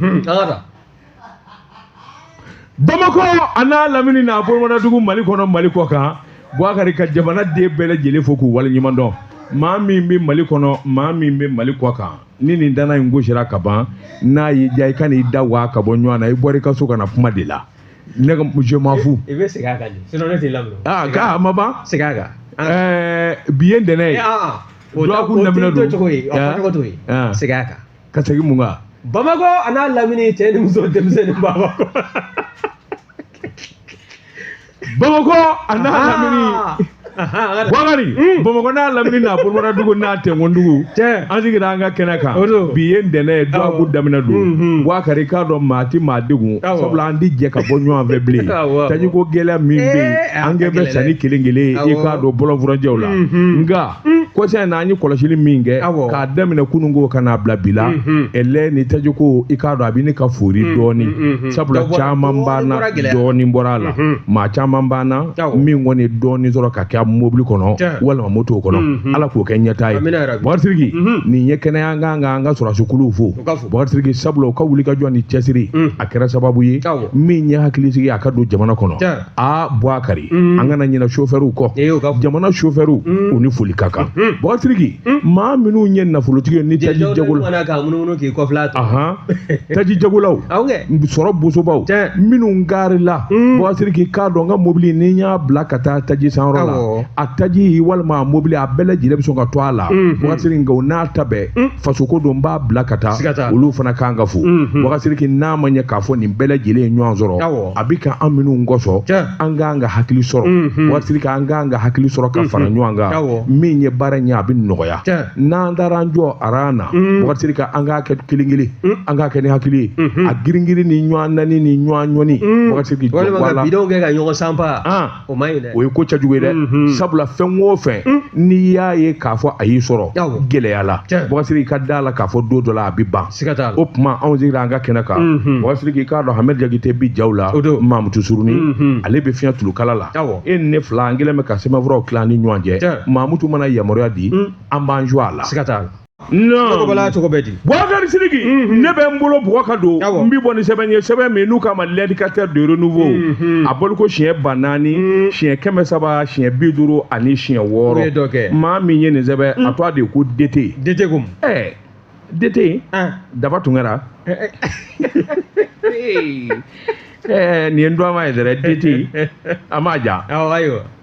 Hmm. bamakɔ a n'a lamini n'a bolomadadugu mali kɔnɔ mali kɔ kan buwakari ka jamana den bɛɛ lajɛlen fo k'u waleɲuman dɔn maa min bɛ mali kɔnɔ maa min bɛ mali kɔ kan ni nin danna in gosira ka ban n'a y'i diya i kan'i da waa ka bɔ ɲɔgɔn na i bɔra i ka so ka na kuma de la ne ka je m'en fous. i bɛ segin a kan de sinon ne t'i lamɛn. aa k'a ma ban. segin a kan. ɛɛ bi ye ntɛnɛn ye. dɔgɔkun daminɛ don. o tɛ to cogo ye. segin a kan. ka segin mun kan bamakɔ a n'a lamini cɛ ni muso denmisɛnnin bamakɔ bamakɔ a n'a lamini buwakari hmm. bamakɔ n'a lamini n'a bolomada dugu n'a tɛnkɔn dugu an sigira an ka kɛnɛ kan bi ye ntɛnɛn ye dɔgɔkun daminɛ don hmm, hmm. buwakari i k'a dɔn maa ti maa degun sabula an ti jɛ ka bɔ ɲɔgɔn fɛ bilen tajiko gɛlɛya min bɛ yen eh, an kɛ bɛ sanni kelen kelen ye i k'a dɔn bɔlɔnfurancɛw la nka kɔsa in na an ye kɔlɔsili min kɛ k'a daminɛ kununko ka n'a bila bi la ɛlɛ ni tajiko i k'a dɔn a bɛ ɲini ka foori dɔɔni sabula caman b'an na dɔɔni bɔra a la maa caman b'an na min kɔni dɔɔni sɔrɔ ka kɛ mobili kɔnɔ walima moto kɔnɔ ala k'o kɛ ɲɛtaa ye buwakari sidiki nin ye kɛnɛ ye an ka kan ka an ka sɔrɔdasikuluw fo buwakari sidiki sabula u ka wulikajɔ ni cɛsiri a kɛra sababu ye min ye hakilisigi a ka don jamana kɔnɔ aa buwakari an kana ɲina sofɛriw kɔ E y'o ka fɔ. jamana sofɛriw u ni foli ka kan buwakari sidiki maa minnu ye nafolotigi ye ni taji Jɛjɛw jagola mana k'a munumunu k'i kɔfila a tɔ. ahan taji jagolaw Awɔ kɛ. sɔrɔ bosobaw Tiɲɛ. minnu garila buwakari sidiki i k'a dɔn n ka mobili ni n y'a bila ka taa taji sanyɔrɔ la Awɔ. a taji walima a mobili a bɛɛ lajɛlen bɛ sɔn ka to a la buwakari sidiki nka o n'a ta bɛɛ fasoko don n b'a bila ka taa Siga t'a la. olu fana kan ka fo buwakari sidiki n'a ma ɲɛ k'a fɔ nin bɛɛ lajɛlen ye ɲɔgɔn sɔrɔ Awɔ. a bɛ ka an minɛ o kɔsɔn an ka an ka hakili sɔrɔ mhm. buwakari sidiki an ka an ka hakili sɔrɔ ka mhm. fara ɲɔgɔn kan min ye baara ye a bɛ nɔgɔya n'an taara an jɔ a ran na mhm. buwakari sidiki an ka kɛ kelen kelen an ka kɛ ni hakili ye a girin girin ni ɲɔgɔn nɛni ni ɲɔgɔn ɲɔni buwakari sidiki wala bidɔn kɛ ka ɲɔgɔn sanba o ma ɲi dɛ o ye ko cɛjugu ye dɛ Mhm. sabula fɛn o fɛn Mm. n'i y'a ye k'a fɔ a y'i sɔrɔ Awɔ. gɛlɛya la Tiɲɛ. buwakari sidiki i ka da a la k'a fɔ don dɔ la a bɛ ban siga t'a la o tuma anw sigira an ka kɛnɛ kan Mhm. buwakari sidiki i k'a dɔn hamɛdi jakite bi jaw la O don. mamutu suruni Mhm. ale bɛ fiɲɛ tulukala la Awɔ. e ni ne fila an kɛlen bɛ ka sɛbɛnfuraw tila an ni ɲɔgɔn cɛ Tiɲɛ. mamutu mana yamaruya di Mm. an b'an jɔ a la siga t'a la cogo bɛ di buwakari sidiki ne bɛ n bolo bugɔ ka don n bɛ bɔ ni sɛbɛn ye sɛbɛn min n'u k'a ma l'indicateur de renouveau a bɔliko siɲɛ ba naani siɲɛ kɛmɛ saba siɲɛ bi duuru ani siɲɛ wɔɔrɔ maa min ye nin sɛbɛn a tɔgɔ de ko dete dete ko ɛɛ dete daba tunkara Eh, nin ye n dɔnma ye dɛrɛ deti a ma ja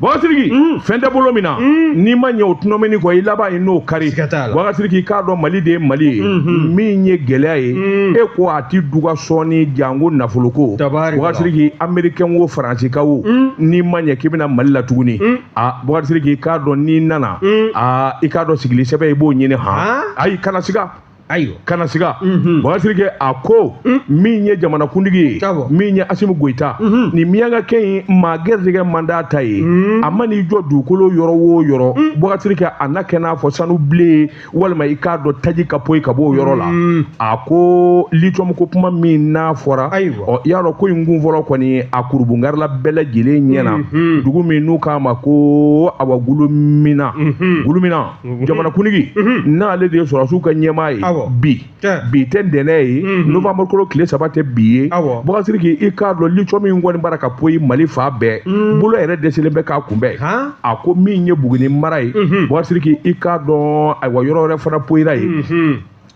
bakasiriki fɛn tɛ bolo min na mm. n'i ma ɲɛ o tɔnɔ minɛ kɔ i laban ye n'o kari bakasiriki k'a dɔn mali de ye mali ye mm-hmm. min ye gɛlɛya ye mm. e ko a ti duga sɔɔni janko nafoloko bakasiriki amerikɛn wo faransika wo mm. n'i ma ɲɛ k'i bɛ na mali la tuguni a bakasiriki k'a dɔn n'i nana a i k'a dɔn sigili sɛbɛn i b'o ɲini han ayi kana siga ayi kana siga mhm. bakasiriki a ko mm. min ye jamanakuntigi ye min ye asimu goyita mhm. ni miyankakɛ in maa gɛrisigɛ man d'a ta ye mm. a man'i jɔ dugukolo yɔrɔ o yɔrɔ mm. bakasiriki a na kɛ n'a fɔ sanu bilen walima i k'a dɔn taji ka poyi ka bɔ o yɔrɔ la a ko litiyɔmu ko kuma min n'a fɔra ɔ i y'a dɔn ko in kun fɔlɔ kɔni a kurunbonkari la bɛɛ lajɛlen ɲɛna mhm. dugu min n'u k'a ma ko awa gulumina gulumina jamanakuntigi n'ale de ye sɔrɔdasiw ka ɲɛmaa ye bi bi tɛ ntɛnɛ ye novembre kalo tile saba tɛ bi ye bakasiriki i k'a dɔn litiyɔmu in kɔni bara ka poyi mali fan bɛɛ bolo yɛrɛ dɛsɛlen bɛ k'a kunbɛn a ko min ye buguni mara ye bakasiriki i k'a dɔn ayiwa yɔrɔ wɛrɛ fana poyira ye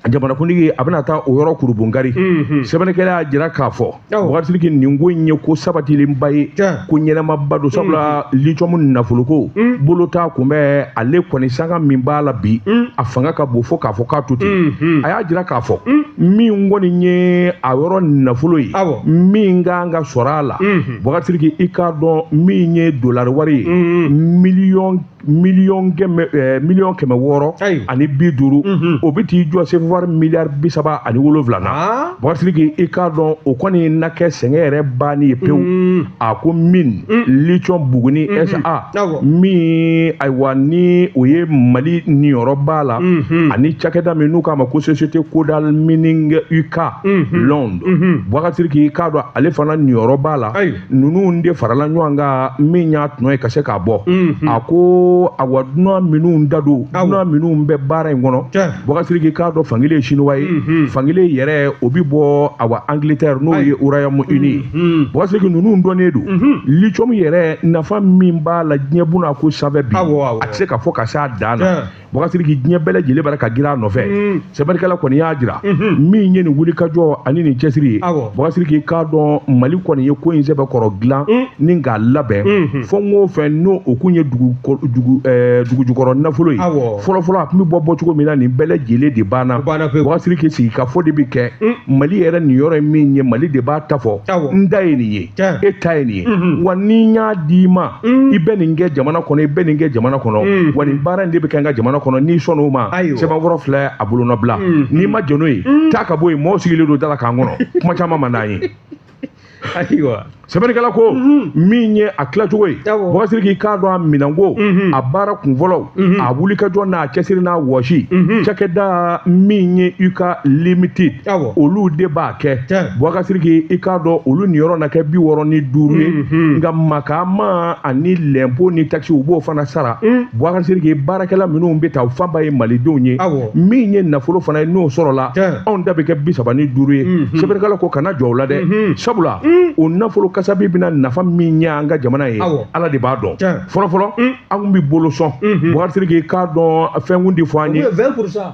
jamanakuntigi a bɛna taa o yɔrɔ kurunbonkari mhm. sɛbɛnnikɛla y'a jira k'a fɔ bakasiriki nin ko in ye ko sabatilenba ye ko ɲɛnamaba don sabula mhm. litiyɔmu nafoloko mhm. bolo t'a kunbɛn ale kɔni sanga min b'a la bi a fanga ka bon fo k'a fɔ k'a to ten a y'a jira k'a fɔ min kɔni ye a yɔrɔ nafolo ye min kan ka sɔrɔ a la bakasiriki i k'a dɔn min ye dolari wari ye miliyɔn miliyɔn kɛmɛ ɛɛ miliyɔn kɛmɛ wɔɔrɔ Ayi. ani bi duuru Mhm. o bɛ t'i jɔ sefawari miliyari bi saba ani wolonfila na Ah. bakasiriki i k'a dɔn o kɔni na kɛ sɛgɛn yɛrɛ banni ye pewu Mm. a ko min litiyɔmu buguni SA Awɔ. min ayiwa ni o ye mali niyɔrɔ b'a la Mhm. ani cakɛda min n'u k'a ma ko société kodal mining uk Mhm. Londres Mhm. bakasiriki i k'a dɔn ale fana niyɔrɔ b'a la Ayi. ninnu de farala ɲɔgɔn kan min y'a tɔnɔ ye ka se k'a bɔ a ko awa dunan minnu da don dunan minnu bɛ baara in kɔnɔ bakasiriki k'a dɔn fankelen ye siniwa ye fankelen yɛrɛ o bɛ bɔ awa angilitɛri n'o ye Royaume-Uni ye bakasiriki ninnu dɔnnen don litiyɔmu yɛrɛ nafa min b'a la diɲɛ buna ko sanfɛ bi a tɛ se ka fɔ ka se a dan na Bakasiriki diɲɛ bɛɛ lajɛlen bara ka girin a nɔfɛ mm. sɛbɛnnikɛla kɔni y'a jira mm-hmm. min ye nin wulikajɔ ani nin cɛsiri ye Bakasiriki k'a dɔn Mali kɔni ye ko in sɛbɛn kɔrɔ dilan mm. ni k'a labɛn mm-hmm. fɛn o fɛn n'o o kun ye dugu dugu eh, dugu jukɔrɔ nafolo ye fɔlɔfɔlɔ a tun bɛ bɔ bɔ cogo min na nin bɛɛ lajɛlen de banna Bakasiriki sigikafɔ de bɛ kɛ mm. Mali yɛrɛ niyɔrɔ ye min ye Mali de b'a ta fɔ n ta ye nin ye e ta ye nin ye mhm. wa ni n y'a d'i ma mhm. i bɛ nin kɛ jamana kɔnɔ i bɛ nin kɛ jamana kɔnɔ mhm. wa nin baara in de bɛ kɛ n ka jamana kɔnɔ n'i sɔnn'o ma sɛbɛnkɔrɔ filɛ a bolonɔbila n'i ma jɛn n'o ye taa ka bɔ yen mɔgɔw sigilen don da la k'an kɔnɔ kuma caman man d'an ye ayiwa sɛbɛnnikɛla ko min ye a tilacogo ye bɔkasiriki i k'a dɔn a minɛko a baara kunfɔlɔw a wulikajɔ n'a cɛsiri n'a wɔsi cakɛda min ye UK limited awɔ olu de b'a kɛ Tiɲɛ. bɔkasiriki i k'a dɔn olu niyɔrɔ na kɛ bi wɔɔrɔ ni duuru ye Mhm. nka makaama ani lɛnpo ni takisi u b'o fana sara Mm. bɔkasiriki baarakɛla minnu bɛ ta u fanba ye malidenw ye Awɔ. min ye nafolo fana ye n'o sɔrɔla Tiɲɛ. anw ta bɛ kɛ bi saba ni duuru ye Mhm. sɛbɛnnikɛla ko kana jɔn o la dɛ Mhm. sabula Mm. o nafolo kasabi bɛna nafa min ɲɛ an ka jamana ye Awɔ. ala de b'a dɔn Tiɲɛ. fɔlɔfɔlɔ Mm. an tun bɛ bolo sɔn Mhm. bɔkasiriki k'a dɔn fɛn tun tɛ fɔ anw ye ye vingt pour cent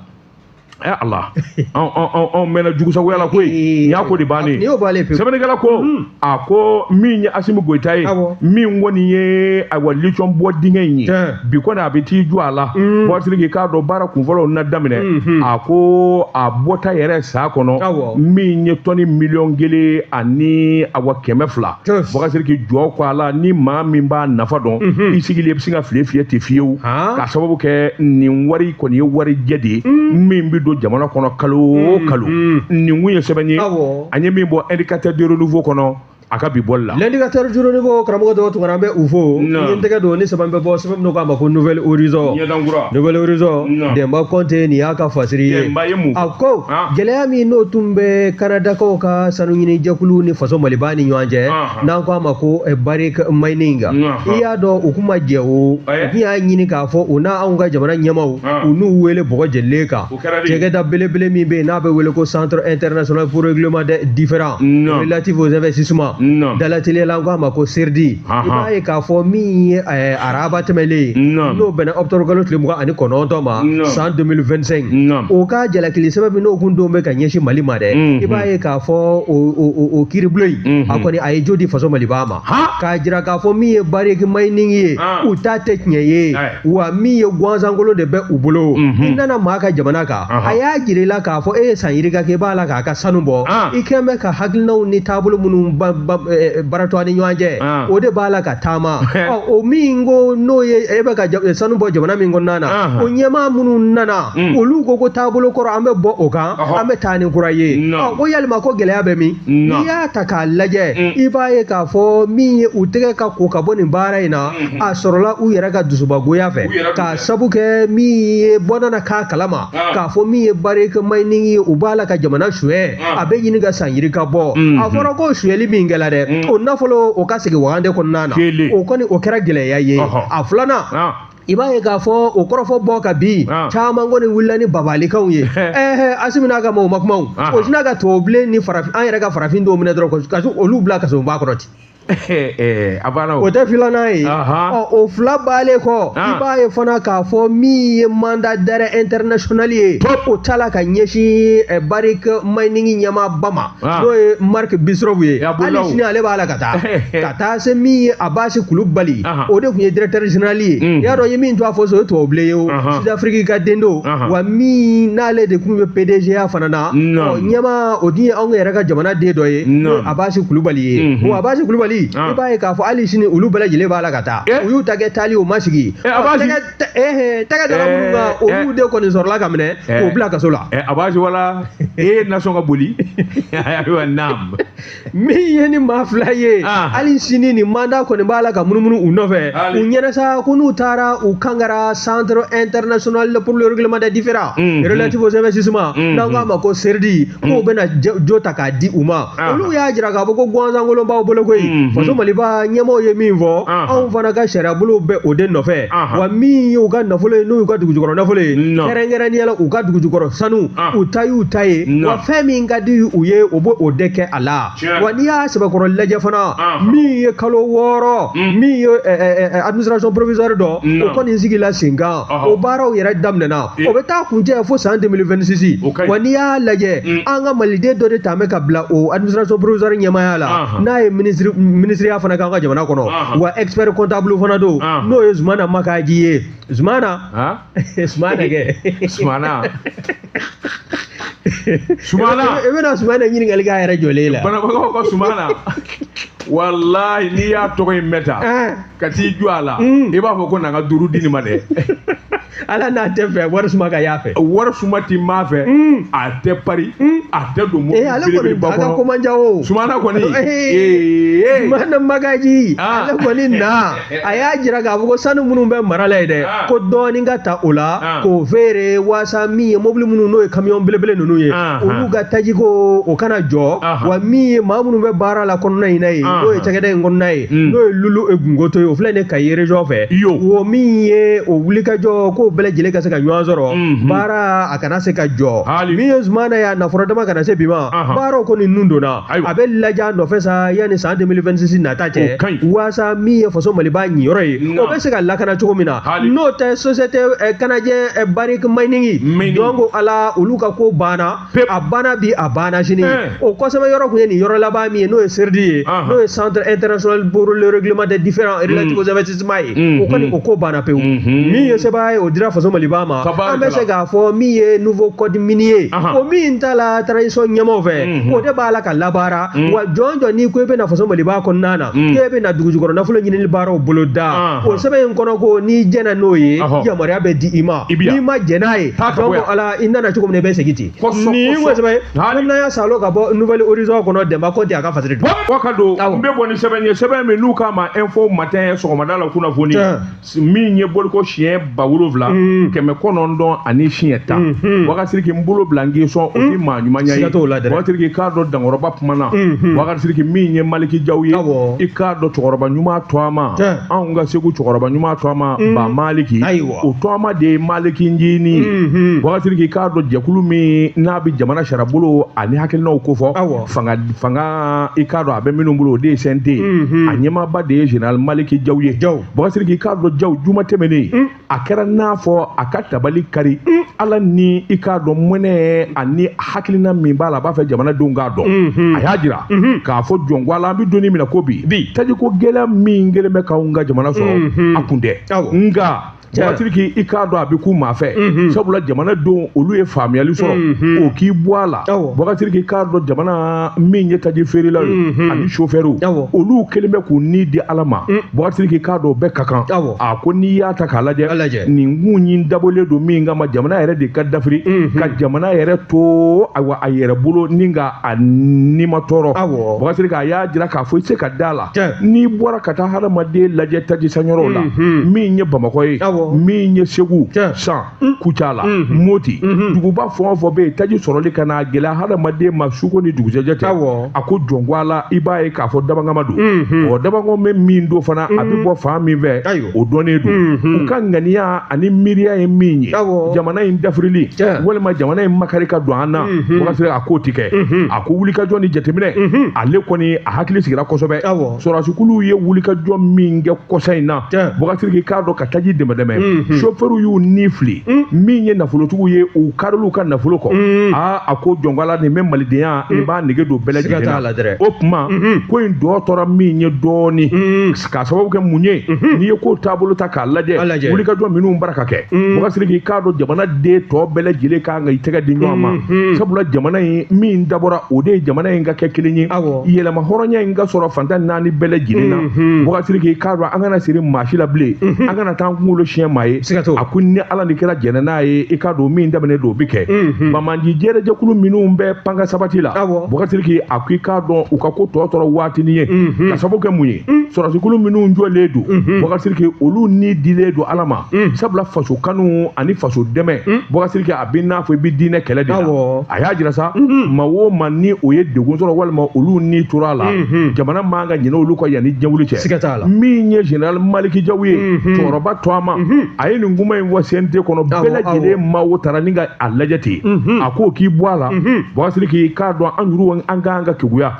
ɛ eh, ala anw mɛnna jugusagoya la koyi nin y'a ko de bannen sɛbɛnnikɛla ko hmm. a ko min ye asimi goyita ye min kɔni ye ayiwa litiyɔmu bɔ dingɛ in ye bi kɔni a bɛ t'i jɔ a la hmm. bɔkasiriki i k'a dɔn baara kunfɔlɔw na daminɛ hmm, a ko a bɔta yɛrɛ san kɔnɔ min ye tɔni miliyɔn kelen ani waa kɛmɛ fila Yes. bɔkasiriki jɔ ko a la ni maa min b'a nafa dɔn Mhm. i sigilen i bɛ sin ka file fiyɛ ten fiyewu Han. k'a sababu kɛ nin wari kɔni ye wari jɛ de ye min bɛ don jamana kɔnɔ kalo o kalo Mhm. nin kun ye sɛbɛn ye Awɔ. an ye min bɔ indicateur du renouveau kɔnɔ a ka bi bɔli la L'indicateur du renouveau karamɔgɔ dɔw tunkara an bɛ u fo Non. n ye n tɛgɛ don ni sɛbɛn bɛ bɔ sɛbɛn min k'a ma ko nouvel horizon ɲɛdan kura nouvel horizon Non. denba kɔnte nin y'a ka fasiri ye Denba ye mun fɔ? a ko Ah. gɛlɛya min n'o tun bɛ kanadakaw ka sanu ɲini jɛkulu ni faso maliba ni ɲɔgɔn cɛ ah. n'an ko a ma ko eh, bariki mayinin ah. i y'a dɔn u kun ma jɛn o eh? u tun y'a ɲini k'a fɔ u na anw ka jamana ɲɛmaaw u n'u wele banque mondiale ka cakɛda belebele min bɛ yen n'a bɛ wele ko centre international pour règlement des différends relatifs aux investissements dalateliya la an ko a ma ko seridi i b'a ye k'a fɔ min ye eh, araba tɛmɛlen ye n'o bɛnna ɔkutɔburukalo tile mugan ani kɔnɔntɔn ma san 2025 o ka jalakili sɛbɛn min n'o kun don bɛ ka ɲɛsin mali ma dɛ i b'a ye k'a fɔ o kiiribulon in a kɔni a ye jo di faso maliba ma k'a jira k'a fɔ min ye bariki mayinin ye u ta tɛ tiɲɛ ye wa min ye gansankolo de bɛ u bolo mhm. i nana maa ka jamana kan a y'a jira i la k'a fɔ e ye san yirika kɛ i b'a la k'a ka sanu bɔ ah. i kun bɛ ka hakilinaw ni taabolo minnu eh, baratɔ ni ɲɔgɔn cɛ ah. o de b'a la ka taama o min ko n'o ye e bɛ ka eh, sanu bɔ jamana min kɔnɔna na o ɲɛmaa minnu nana mm. olu ko ko taabolo kɔrɔ an bɛ bɔ o kan an bɛ taa ni kura ye ko yalima ko gɛlɛya bɛ min n'i y'a ta k'a lajɛ mm. i b'a ye k'a fɔ min ye u tɛgɛ ka ko ka bɔ nin baara in na a sɔrɔla u yɛrɛ ka dusubagoya fɛ k'a sabu kɛ min ye bɔnana k'a kalama k'a fɔ min ye Barrick Mining ye u b'a la ka jamana suyɛ a bɛ ɲini ka san yiri ka bɔ a fɔra ko suyɛli min kɛla dɛ o nafolo o ka segin wagande kɔnɔna na o kɔni o kɛra gɛlɛya ye a filanan i b'a ye k'a fɔ o kɔrɔfɔ bɔ ka bin ah. caman kɔni wulila ni babalikanw ye ɛɛ asimi n'a ka mɔgɔw ma kuma ah. o sinna ka tubabubilen ni farafin an yɛrɛ ka farafin dɔw minɛ dɔrɔn ka olu bila kasoba kɔrɔ ten a banna o tɛ filanan ye o fila baalen kɔ i b'a ye fana k'a fɔ min ye mandat d'arrêt international ye o ta la ka ɲɛsin Barrick Mining ɲɛmaaba ma n'o ye Mark Bristow ye hali sini ale b'a la ka taa ka taa se min ye Abasi Kulubali o de tun ye directeur général ye i y'a dɔn i ye min tɔgɔ fɔ so o ye tubabubilen ye o sud afrique ka den don wa min n'ale de tun bɛ pdg ya fana na ɲɛmaa o dun ye anw yɛrɛ ka jamana den dɔ ye Abasi Kulubali ye bon Abasi Kulubali i b'a ye k'a fɔ hali sini olu bɛɛ lajɛlen b'a la ka taa u y'u ta kɛ taali o ma sigi tɛgɛ dara minnu kan olu de kɔni sɔrɔla ka minɛ k'o bila kaso la Abasi wala e ye nasɔn ka boli ayiwa naam min ye nin maa fila ye hali sini nin mandat kɔni b'a la ka munumunu u nɔfɛ u ɲɛ na sa ko n'u taara u kangara centre international pour le règlement des différends relatifs aux investissements n'an k'a ma ko CIRDI k'u mm. bɛna jo ta k'a di u ma ah. olu y'a jira k'a fɔ ko gansankolon b'aw bolo koyi mm-hmm. faso maliba ɲɛmɔgɔw ye min fɔ ah. anw fana ka sariyabolow bɛ o de nɔfɛ ah. wa min y'u ka nafolo ye n'o y'u ka dugujukɔrɔ nafolo ye kɛrɛnkɛrɛnnenya la u ka dugujukɔrɔ sanu u ta y'u ta ye wa fɛn min ka di u ye u b'o de kɛ a la wa n'i y'a sɛbɛkɔrɔ lajɛ fana min ye kalo wɔɔrɔ mm. min ye eh, eh, eh, administration provisoire dɔ o kɔni sigila sen kan o baaraw yɛrɛ daminɛna o bɛ taa kuncɛ fo san 2026 o ka ɲi wa n'i y'a lajɛ an ka maliden dɔ de tun bɛ ka bila o administration provisoire ɲɛmaaya la n'a ye minisiri minisiriya fana k'an ka jamana kɔnɔ wa expert comptable fana don n'o ye Zumana Makaji ye Zumana Zumana kɛ Zumana Zumana i bɛna Zumana ɲininkali k'a yɛrɛ jɔlen la banabagaw ka Zumana walayi n'i y'a tɔgɔ in mɛn tan ka t'i jɔ a la i b'a fɔ ko na n ka duuru di nin ma dɛ ala n'a tɛ fɛ wari suma ka y'a fɛ wari suma ti maa fɛ a tɛ pari a tɛ don ee ale kɔni belebeleba a ka kɔnɔ ko man ca o sumana kɔni Zumana Makaji Ah. ale kɔni na a y'a jira k'a fɔ ko sanu minnu bɛ mara la yen dɛ Ah. ko dɔɔnin ka ta o la Ah. k'o feere waasa min ye mobili minnu n'o ye kamiyɔn belebele ninnu ye Ah, olu ah. ka tajiko o kana jɔ Aha. wa min ye maa minnu bɛ baara la kɔnɔna in na ye Ah, n'o ye ah. cakɛda in kɔnɔna ye Mm. n'o ye lulu e gungoto ye o filɛ ne kayi région fɛ Yo. o min ye o wulikajɔ ko bɛɛ lajɛlen ka se ka ɲɔgɔn sɔrɔ Mhm. baara a kana se ka jɔ Hali. min ye jamana ye a nafolo dama kana se bi ma Ahan. baaraw kɔni nun donna Ayiwa. a bɛ lajɛ a nɔfɛ sa yanni san 2026 nata cɛ waasa min ye faso maliba ɲiyɔrɔ ye Na. o bɛ se ka lakana cogo min na Hali. n'o tɛ société eh, canadienne eh, Barrick Mining Mining. donc ala olu ka ko banna a banna bi a banna sini eh. o kɔsɛbɛ yɔrɔ tun ye nin yɔrɔ laban min ye n'o ye CIRDI ye n'o ye centre international pour le règlement des différends hmm. relatifs aux investissements ye hmm, o kɔni hmm. o ko banna pewu min ye sɛbɛn ye o dira faso maliba ma an bɛ se k'a fɔ min ye nouveau code minier ye o min tala transition ɲɛmaaw fɛ o de b'a la ka labaara wa jɔn jɔn n'i ko i bɛ na faso maliba kɔnɔna na k'e bɛna dugujukɔrɔ nafolo ɲinili baaraw boloda o sɛbɛn in kɔnɔ ko n'i jɛnna n'o ye yamaruya bɛ di i ma n'i ma jɛn n'a ye ala i nana cogo min na i bɛ segin ten nin ko sɛbɛn an y'a salo ka bɔ Nouvel Horizon kɔnɔ dɛmba kɔnte a ka fasiri don wa ka don n bɛ bɔ ni sɛbɛn ye sɛbɛn min n'u k'a ma info matin sɔgɔmada la kunnafoni min ye bɔliko siɲɛ ba wolonwula hmm. kɛmɛ kɔnɔntɔn ani siɲɛ tan hmm, hmm. wakasiriki n bolo bila n k'i sɔn o tɛ maa ɲuman ye wakasiriki k'a dɔn dankɔrɔba kuma na wakasiriki min ye maliki jaw ye i k'a dɔn cɛkɔrɔba ɲuman tɔma anw ka segu cɛkɔrɔba ɲuman tɔma ba maliki o tɔma de ye maliki njini mhm. wakasiriki k'a dɔn jɛkulu min n'a bɛ jamana sariyabolo ani hakilinaw ko fɔ fanga i k'a dɔn a bɛ minnu bolo o de ye CNT mhm. a ɲɛmaaba de ye général maliki jaw ye wakasiriki k'a dɔn jaw juma tɛmɛnen mm. a kɛra n'a fɔ a ka tabali kari mm. ala ni i k'a dɔn mɔnɛ ani hakilina min b'a la a b'a fɛ jamanadenw k'a dɔn mhm. a y'a jira k'a fɔ jɔn ko ala an bɛ don min na ko bi tajiko gɛlɛya min kɛlen bɛ k'anw ka jamana sɔrɔ a kun tɛ nka wakasiriki i k'a dɔn a bɛ k'u ma fɛ mhm. sabula jamanadenw olu ye faamuyali sɔrɔ mhm. o k'i bɔ a la wakasiriki k'a dɔn jamana min ye taji feerelaw ye mhm. ani sofɛriw olu kɛlen bɛ k'u ni di ala ma mm. wakasiriki k'a dɔn bɛɛ ka kan a ko n'i y'a ta k'a lajɛ nin ko in dabɔlen don min kama jamana yɛrɛ de ka dafiri ka jamana yɛrɛ to ayiwa a yɛrɛ bolo ni ka a nimatɔɔrɔ wakasiriki a y'a jira k'a fɔ i se ka da la n'i bɔra ka taa hadamaden lajɛ tajisanyɔrɔw la mhm. min ye bamakɔ ye min ye segu san mm. kucala mhm. moti mhm. duguba fɛn o fɛn bɛ yen taji sɔrɔli ka na gɛlɛya hadamaden ma su ko ni dugusɛjɛ tɛ a ko jɔn ko ala i b'a ye k'a fɔ dabɔnkama don ɔ dabangɔ bɛ min don fana a bɛ bɔ fan min fɛ o dɔnnen don u ka ŋaniya ani miiriya ye min ye jamana in dafirili walima jamana in makari ka don an na wakasiriki a k'o ti kɛ a ko wulikajɔ ni jateminɛ ale kɔni a hakili sigira kosɛbɛ sɔrɔdasikulu ye wulikajɔ min kɛ kɔsa in na bɔkasiriki k'a dɔn ka taji dɛmɛdɛmɛ sofɛriw y'u ni fili min ye nafolotigiw ye u karil'u ka nafolo kɔ aa a ko jɔn ko ala nin bɛ malidenya in b'a nege don bɛɛ lajɛlen o tuma ko in tɔ tora min ye dɔɔnin k'a sababu kɛ mun ye mhm. n'i ye ko taabolo ta k'a lajɛ wulikajɔ minnu bara ka kɛ mhm. bɔkasiriki k'a dɔn jamana den tɔ bɛɛ lajɛlen kan ka i tɛgɛ di ɲɔgɔn ma mhm. sabula jamana in min dabɔra o de ye jamana in ka kɛ kelen ye yɛlɛma hɔrɔnya in ka sɔrɔ fan tan ni naani bɛɛ lajɛlen na bɔkasiriki k'a dɔn an kana siri maa si la bilen an kana taa an kunkolo siɲɛ maa ye a ko ni ala ni kira jɛnna n'a ye i k'a dɔn min daminɛ don o bɛ kɛ jɛrɛjɛkulu minnu bɛ ban ka sabati la bɔkasiriki a ko i k'a dɔn u ka ko tɔ tora waatinin ye mhm. k'a sababu kɛ mun ye mhm. sɔrɔdasikulu minnu jɔlen don mhm. bɔkasiriki olu ni dilen don ala ma sabula faso kanu ani faso dɛmɛ bɔkasiriki a bɛ n'a fɔ i bɛ diinɛ kɛlɛ de la a y'a jira sa maa o maa ni o ye degun sɔrɔ walima olu ni tora a la jamana man ka ɲinɛ olu kɔ yan ni jɛn wuli cɛ siga t'a la min ye general maliki jaw ye cɛkɔrɔba to a ma a ye nin kuma in fɔ CNT kɔnɔ bɛɛ lajɛlen ma o taara ni ka a lajɛ ten mhm. a k'o k'i bɔ a la mhm. bɔkasiriki k'a dɔn an yɛrɛw an kan ka keguya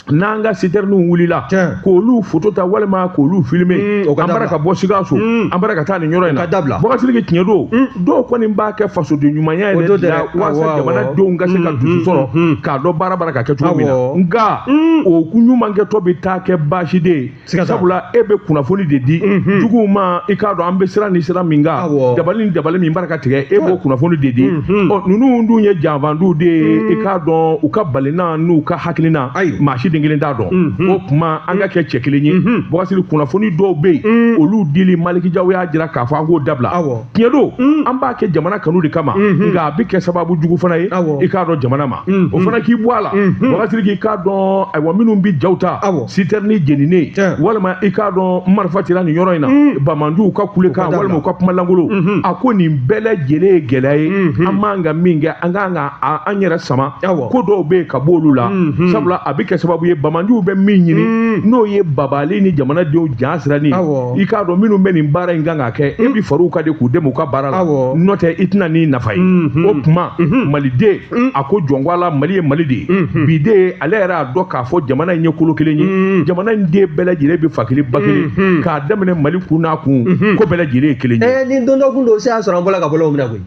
n'an ka sitɛriniw wulila k'olu foto ta walima k'olu filime mm, an bara ka bɔ sikaso mm. an bara ka taa nin yɔrɔ in na bɔkasiriki tiɲɛ don mm. dɔw kɔni b'a kɛ fasoden ɲumanya yɛrɛ de la walasa jamanadenw ka se ka dusu sɔrɔ k'a dɔn baara bara ka kɛ cogo min na nka o ɲumankɛtɔ bɛ taa kɛ baasi de ye siga t'a la. sabula e bɛ kunnafoni de di juguw ma i k'a dɔn an bɛ sira ni sira min kan Awɔ. dabali ni dabali min bara ka tigɛ e b'o kunnafoni de di ɔ ninnu dun ye janfanciw de ye i k'a dɔn u ka balina n'u ka hakilina Ayi. maa si den kelen t'a dɔn o tuma an ka kɛ cɛ kelen ye bɔkasiriki kunnafoni dɔw bɛ yen olu dili maliki jaw y'a jira k'a fɔ an k'o dabila Awɔ. tiɲɛ don mm. an b'a kɛ jamana kanu de kama mm-hmm. nka a bɛ kɛ sababu jugu fana ye i k'a dɔn jamana ma mm-hmm. o fana k'i bɔ a la mm-hmm. bɔkasiriki k'a dɔn ayiwa minnu bɛ jaw ta sitɛrini jeninen walima i k'a dɔn marifa cira nin yɔrɔ in na mm. banbaganciw ka kulekan walima u ka kuma langolo a ko nin bɛɛ lajɛlen ye gɛlɛya ye an man ka min kɛ an kan ka an yɛrɛ sama ko dɔw bɛ yen ka bɔ olu la sabula a bɛ kɛ sababu ye banbaganciw bɛ min ɲini mm. n'o ye bagabagali ni jamanadenw jasiranni i k'a dɔn minnu bɛ nin baara in kan ka kɛ e bɛ far'u kan de k'u dɛmɛ u ka baara la Awɔ. n'o tɛ i tɛna nin nafa ye Mhm. o tuma maliden a ko jɔn ko ala mali ye mali de ye bi de ye ale yɛrɛ y'a dɔn k'a fɔ jamana in ye kolo kelen ye jamana in den bɛɛ lajɛlen bɛ fa kelen ba kelen k'a daminɛ mali kun n'a kun ko bɛɛ lajɛlen ye kelen ye ɛ ni don dɔ kun don se y'a sɔrɔ an bɔra ka bɔlɔw minɛ koyi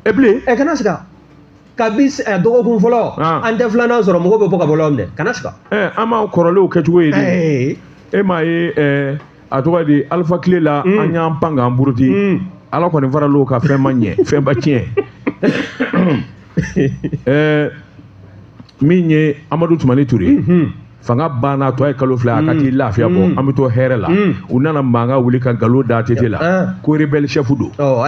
e bilen ɛ kana siga kabi eh, dɔgɔkun fɔlɔ ah. an tɛ filanan sɔrɔ mɔgɔw bɛ bɔ ka bɔ lɔgɔ minɛ kana siga eh, an b'an kɔrɔlenw kɛcogo ye de eh. e m'a ye a cogo di alifa tile la mm. an y'an pan k'an buruti mm. ala kɔni faral'o kan fɛn ma ɲɛ fɛn ma tiɲɛ min ye amadu tumani ture mm-hmm. fanga banna tɔ ye kalo fila a ka mm. t'i lafiya bɔ an bɛ to hɛrɛ la u nana mankan wuli ka nkalon da ATT la ah. ko rebɛli sɛfu don oh,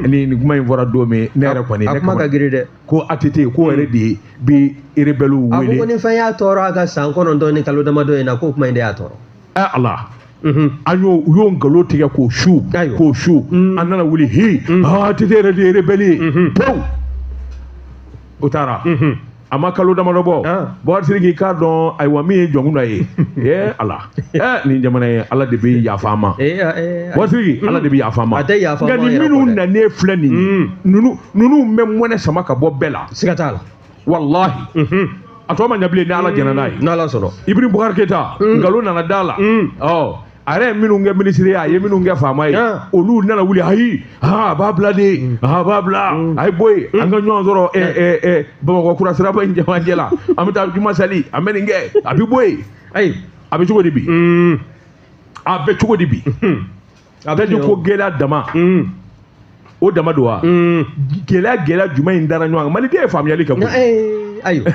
ni nin kuma in fɔra don min ne yɛrɛ kɔni a kuma ka girin dɛ ko ATT k'o yɛrɛ de bɛ rebɛliw wele a ko ko ni fɛn y'a tɔɔrɔ a ka san kɔnɔntɔn ni kalo damadɔ in na k'o kuma in de y'a tɔɔrɔ ɛ Ala an y'o u y'o nkalon tigɛ k'o su k'o su an nana wuli hi ATT yɛrɛ de ye rebɛli ye pewu o taara a ma kalo damadɔ bɔ ah. buwa siriki k'a dɔn ayiwa min ye jɔnkunda ye ee ala ɛ nin jamana ye ala de bɛ yafa an ma eh, eh, eh, buwa siriki mm. ala de bɛ yafa an ma nka nin minnu nanen filɛ nin mm. ninnu ninnu bɛ mɔnɛ sama ka bɔ bɛɛ la siga t'a la walahi mhm. a tɔ ma ɲɛ bilen ni ala jɛnna n'a ye mm. n'ala sɔnna iburahim bubakari keyita nkalon nana d'a la ɔ a yɛrɛ ye minnu kɛ minisiri ye a ye minnu kɛ faama ye olu nana wuli ayi a b'a bila de mm. a b'a bila mm. a ye bɔ yen an ka ɲɔgɔn sɔrɔ bamakɔ kura siraba in jamajɛ la an bɛ taa juma sali an bɛ nin kɛ a bɛ bɔ yen ayi a bɛ cogo di bi mm. a bɛ cogo di bi a bɛ di ko gɛlɛya dama o dama don wa mm. gɛlɛya gɛlɛya juman in dara ɲɔgɔn kan maliden ye faamuyali kɛ koyi eh, ayiwa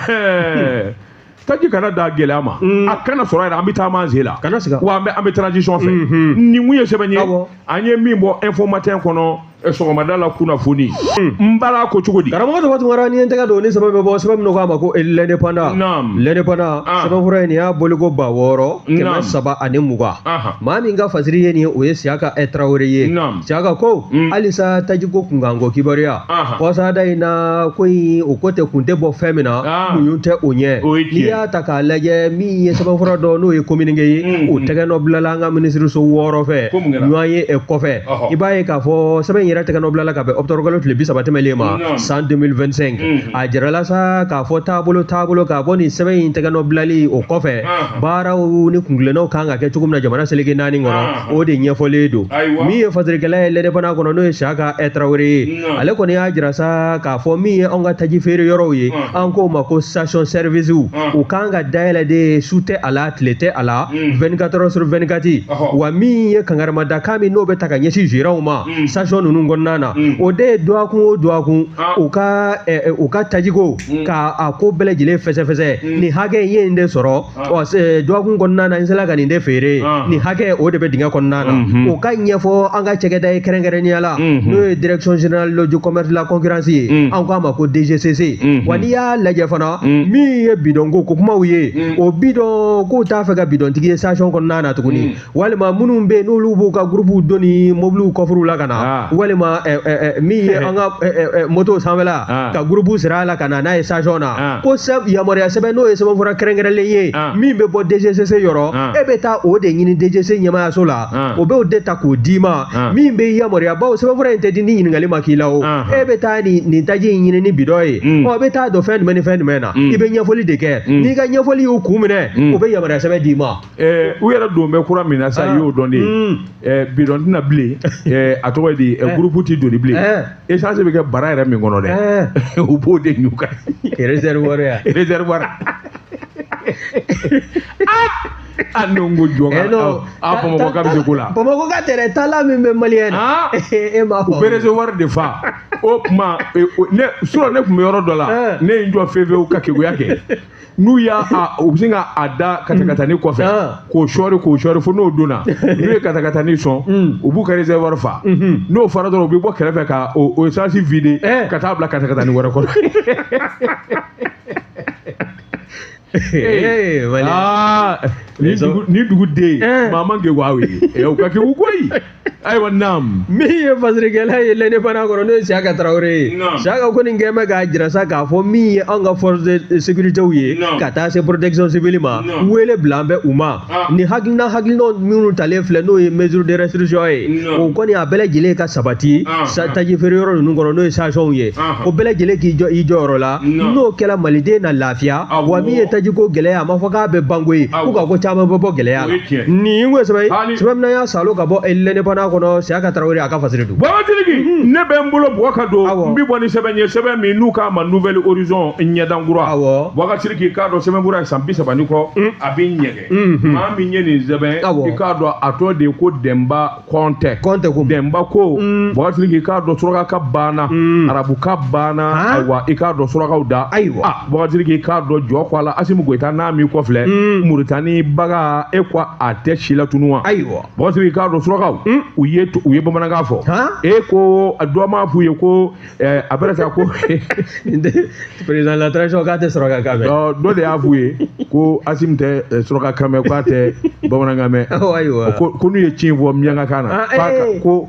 taji kana da gɛlɛya ma mm. a kana sɔrɔ yɛrɛ an bɛ taama an sen la kana siga wa an bɛ an bɛ transition fɛ mm-hmm. nin tun ye sɛbɛn ye an ye min bɔ info matin kɔnɔ eh, sɔgɔmada la kunnafoni mm. n bala ko cogo di karamɔgɔ dɔ tun kɛra ni n tɛgɛ don ni sɛbɛn bɛ bɔ sɛbɛn min k'a ma ko eh, l'indépendant l'indépendant ah. sɛbɛn fura in nin y'a boliko ba wɔɔrɔ kɛmɛ saba ani mugan maa min ka fasiri ye nin ye o ye siyaka tarawele ye Siyaka ko mm. halisa tajiko kunkanko kibaruya kɔsada in na ko in o ko tɛ kun tɛ bɔ fɛn min na ah. kun tɛ o ɲɛ n'i y'a ta k'a lajɛ min ye sɛbɛnfura dɔ n'o ye kominike ye mm, o mm. tɛgɛ nɔ bilala an ka minisiriso wɔɔrɔ fɛ ɲɔgɔn ye e kɔfɛ i b'a ye k'a fɔ sɛbɛn in yɛrɛ tɛgɛ nɔ bilala ka bɛn ɔkutɔburukalo tile bi saba tɛmɛlen ma san 2025 a jirala sa k'a fɔ taabolo taabolo ka bɔ nin sɛbɛn in tɛgɛ nɔ bilali o kɔfɛ baaraw ni kuntilennaw kan ka kɛ cogo min na jamana seleke naani kɔnɔ o de ɲɛfɔlen don min ye fasirikɛla ye l'indépendant kɔnɔ n'o ye siyaka tarawele ye ale kɔni y'a jira sa k'a fɔ min ye anw ka taji feere yɔrɔw ye an k'o ma ko station service u kan ka dayɛlɛ de su tɛ a la tile tɛ a la 24 heures sur 24 wa min ye kangarimada kan min n'o bɛ taa ka ɲɛsin gérantw ma station ninnu kɔnɔna na o de ye dɔgɔkun o dɔgɔkun u ka u ka tajiko ka a ko bɛɛ lajɛlen fɛsɛfɛsɛ nin hakɛ in ye nin de sɔrɔ dɔgɔkun kɔnɔna na n sera ka nin de feere nin hakɛ o de bɛ dingɛ kɔnɔna na o ka ɲɛfɔ an ka cɛkɛda ye kɛrɛnkɛrɛnnenya la n'o ye direction générale du commerce de la concurrence ye an k'a ma ko DGCC wa n'i y'a lajɛ fana min ye bidɔnko ko kumaw ye o bidɔn k'u t'a fɛ ka bidɔntigi ye station kɔnɔna na tuguni walima minnu bɛ n'olu b'u ka gurupuw don ni mobiliw kɔfuruw la ka na ah. walima eh, eh, eh, min ye an ka moto sanfɛla ah. ka gurupu siri a la ka na n'a ye station na ah. ko yamaruya sɛbɛn n'o ye sɛbɛnfura kɛrɛnkɛrɛnlen ye min bɛ bɔ DGCC yɔrɔ e bɛ taa o de ɲini DGCC ɲɛmaayaso la o b'o de ta k'o d'i ma min bɛ yamaruya bawo sɛbɛnfura in tɛ di ni ɲininkali ma k'i la o e bɛ taa nin nin taji in ɲini ni bidɔn ye mm. ɔ e bɛ taa don fɛn jumɛn ni fɛn jumɛn na mm. i bɛ ɲɛfɔli de kɛ mm. n'i ka ɲɛfɔli y'u kun minɛ u bɛ yamaruya sɛbɛn d'i ma ɛɛ u yɛrɛ don bɛ kura min na sa i y'o dɔn de ye mm. ɛɛ bidɔn tɛ na bilen ɛɛ a tɔgɔ ye di ɛɛ gurupu ti doni bilen essence bɛ kɛ bara yɛrɛ min kɔnɔ dɛ u b'o de ɲu kan réservoir ya réservoir a n'o ko jɔn ka a bamakɔ ka bɛ se ko la bamakɔ ka tɛrɛ taala min bɛ maliyɛn na e m'a fɔ u bɛ réservoir de fa o tuma ne surɔ ne tun bɛ yɔrɔ dɔ la ne ye n jɔ fefewu ka keguya kɛ. n'u y'a u bɛ sin ka a da katakatani kɔfɛ ah. k'o sɔɔri k'o sɔɔri fo n'o donna n'u ye katakatani sɔn hmm. u b'u ka réservoir fa hmm. n'o fara dɔrɔn u bɛ bɔ kɛrɛfɛ ka o essence vider eh. ka taa bila katakatani wɛrɛ kɔnɔ. Ah. ni dugu den ye eh. maa man kegun wa o ye eh, o ka kegun koyi. ayiwa naam min ye fasirikɛla ye L'Indépendant kɔnɔ n'o ye siyaka tarawele ye siyaka kɔni kɛ bɛ k'a jira sa k'a fɔ min ye anw ka force de sécuritéw ye ka taa se protection civile ma wele bila an bɛ u ma ah. ni hakilina hakilinaw minnu talen filɛ n'o ye mesure de restriction ye o kɔni a bɛɛ lajɛlen ka sabati ah, ah. taji feere yɔrɔ ninnu kɔnɔ n'o ye stationw ye o bɛɛ lajɛlen k'i jɔ i jɔyɔrɔ la n'o kɛra maliden na lafiya wa min ye tajiko gɛlɛya a ma fɔ k'a bɛ ban koyi ko nka ko caman bɛ bɔ gɛlɛya la nin ye n ko sɛbɛ ye sɛbɛn min na y'a salo ka bɔ L'Indépendant kɔnɔ siyaka tarawele a ka fasiri don babatigi ne bɛ n bolo bɔgɔ ka don n bɛ bɔ ni sɛbɛn ye sɛbɛn min n'u k'a ma Nouvel Horizon ɲɛdan kura awɔ babatigi k'i k'a dɔn sɛbɛn kura ye san bi saba ni kɔ a bɛ ɲɛgɛn maa min ye nin sɛbɛn i k'a dɔn a tɔ de ye ko dɛnba kɔntɛ kɔntɛ ko dɛnba ko babatigi k'i k'a dɔn suraka ka banna arabu ka banna ayiwa i k'a dɔn surakaw da ayiwa Babatigi k'i k'a dɔn jɔn ko Ala Asimu Goyita n'a m'i kɔfilɛ hmm. Muritani baga e ko a tɛ si la tunu wa ayiwa Babatigi k'a dɔn surakaw hmm. u ye u ye bamanankan fɔ e ko dɔ m'a f'u ye ko eh, a bɛna sa ko président la transition k'a tɛ suraka kan mɛn dɔ de y'a f'u ye ko Asimu tɛ eh, suraka kan mɛn k'a tɛ bamanankan mɛn ayiwa ko n'u ye ci in fɔ miyankakan na ah, eh. ko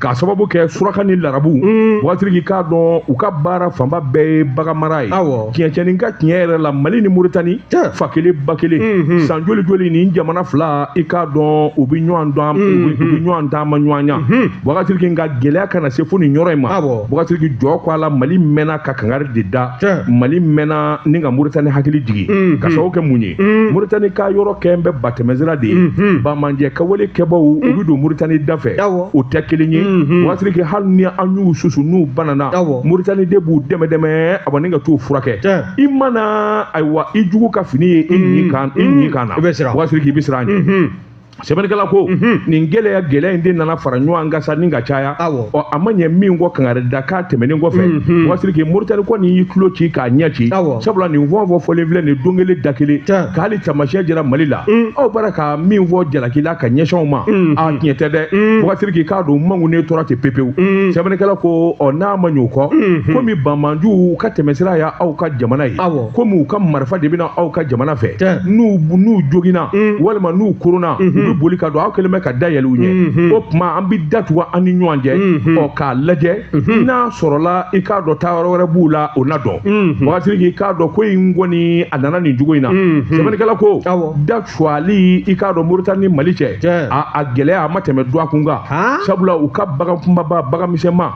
k'a sababu kɛ suraka ni larabu mm. bubakari sidiki i k'a dɔn u ka baara fanba bɛɛ ye baganmara ye tiɲɛcɛnin ka tiɲɛ yɛrɛ la mali ni moritani fa kelen ba kelen mm-hmm. san joli joli nin jamana fila i k'a dɔn u bɛ ɲɔgɔn dɔn mm-hmm. u bɛ ɲɔgɔn taamaɲɔgɔnya mm-hmm. bubakari sidiki nka gɛlɛya kana se fo nin yɔrɔ in ma bubakari sidiki jɔ ko a la mali mɛnna ka kangari de da mali mɛnna ni ka moritani hakili jigin k'a sababu kɛ mun ye mm. moritani ka yɔrɔ kɛlen bɛ batɛmɛsira de ye banbaanci kɛwale kɛbaaw u bɛ don moritani da fɛ o tɛ kelen ye bubakari sidiki hali ni an y'u susu n'u banana moritani de b'u dɛmɛ dɛmɛ ani ka t'u furakɛ i mana ayiwa i jugu ka fini ye i ɲin kan na bubakari sidiki i bɛ siran a ɲɛ sɛbɛnnikɛla ko nin gɛlɛya gɛlɛya in de nana fara ɲɔgɔn kan sa ni ka caya ɔ a ma ɲɛ min kɔ kangari da k'a tɛmɛnen kɔfɛ bubakari sidiki moritani kɔni y'i tulo ci k'a ɲɛ ci sabula nin fɔ fɔ fɔlen filɛ nin don kelen da kelen k'ale taamasiyɛn jira mali la aw bara ka min fɔ jalaki la ka ɲɛsin u ma a tiɲɛ tɛ dɛ bubakari sidiki i k'a dɔn makunnen tora ten pepewu sɛbɛnnikɛla ko ɔ n'a ma ɲ'o kɔ komi banbaanciw ka tɛmɛsira ye aw ka jamana ye komi u ka marifa de bɛ na aw ka jamana fɛ n'u n'u joginna walima n'u koronna u bɛ boli ka don aw kɛlen bɛ ka da yɛlɛ u ɲɛ o tuma an bɛ datugu an ni ɲɔgɔn cɛ ɔ k'a lajɛ n'a sɔrɔla i k'a dɔn taayɔrɔ wɛrɛ b'u la o na dɔn bubakari sidiki i k'a dɔn ko in kɔni a nana nin cogo in na sɛbɛnnikɛla ko suwali i k'a dɔn moritani ni mali cɛ Cɛ. a a gɛlɛya a ma tɛmɛ dɔgɔkun kan Han? sabula u ka bagan kunbaba bagan misɛnma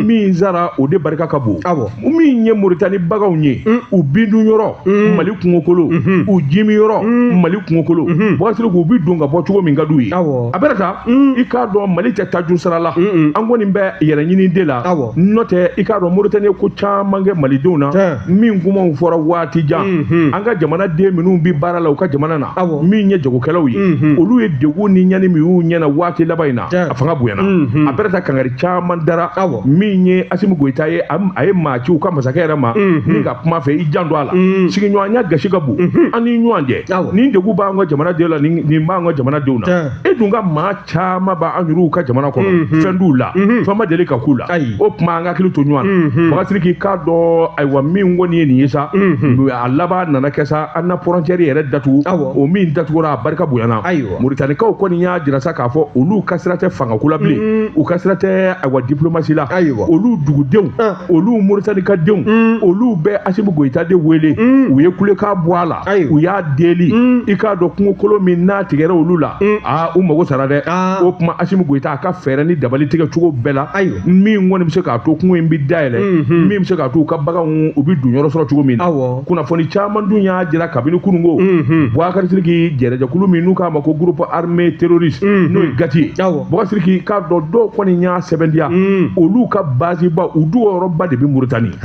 min sara o de barika ka bon Awɔ. min ye moritani baganw ye u bindun yɔrɔ mali kungokolo u jimin yɔrɔ mali kungokolo bubakari sidiki u bi don ka bɔ cogo min ka d'u ye Awɔ. a bɛɛ n'a ta i k'a dɔn mali tɛ tajurusara la an kɔni bɛ hɛrɛ ɲini de la Awɔ. n'o tɛ i k'a dɔn moritani ye ko caman kɛ malidenw na Cɛ. min kumaw fɔra waati jan mhm. an ka jamana den minnu bɛ baara la u ka jamana na min ye jagokɛlaw ye mhm. olu ye degun ni ɲani min y'u ɲɛna waati laban in na a fanga bonyana mhm. a bɛɛ n'a ta kangari caman dara min ye asimi goyita ye a ye maa ci u ka masakɛ yɛrɛ ma ni ka kuma a fɛ i janto a la sigiɲɔgɔnya gasi ka bon an ni ɲɔgɔn cɛ nin degun b'an ka jamana denw la nin b'an ka jamana denw na e dun ka maa caman b'an yɛrɛw ka jamana kɔnɔ mhm. fɛn t'u la mhm. fɛn ma deli ka k'u la o tuma an ka hakili to ɲɔgɔn na bubakari sidiki i k'a dɔn ayiwa min kɔni ye nin ye sa mhm. a laban nana kɛ sa an na fɔrɔncɛri yɛrɛ datugu o min datugura a barika bonyana moritanikaw kɔni y'a jira sa k'a fɔ olu ka sira tɛ fangako la bilen u ka sira tɛ ayiwa dipulomasi la olu dugudenw ah. olu moritani ka denw mm. olu bɛ asimi goyita de wele mm. u ye kulekan bɔ a la u y'a deli mm. i k'a dɔn kungokolo min n'a tigɛra olu la aa u mago sara dɛ ah. o tuma asimi goyita a ka fɛɛrɛ ni dabali tigɛ cogo bɛɛ la min kɔni bɛ se k'a to kungo in bɛ dayɛlɛ mm-hmm. min bɛ se k'a to u ka baganw u bɛ don yɔrɔ sɔrɔ cogo min na kunnafoni caman dun y'a jira kabini kununko mm-hmm. bubakari sidiki kɛlɛjɛkulu min n'u k'a ma ko groupe armé terroriste mm-hmm. n'o ye gati ye boubacar sidiki k'a dɔn dɔw kɔni y'a sɛbɛntiya hmm. olu ka baziba u dogo yɔrɔba de bɛ mauritanie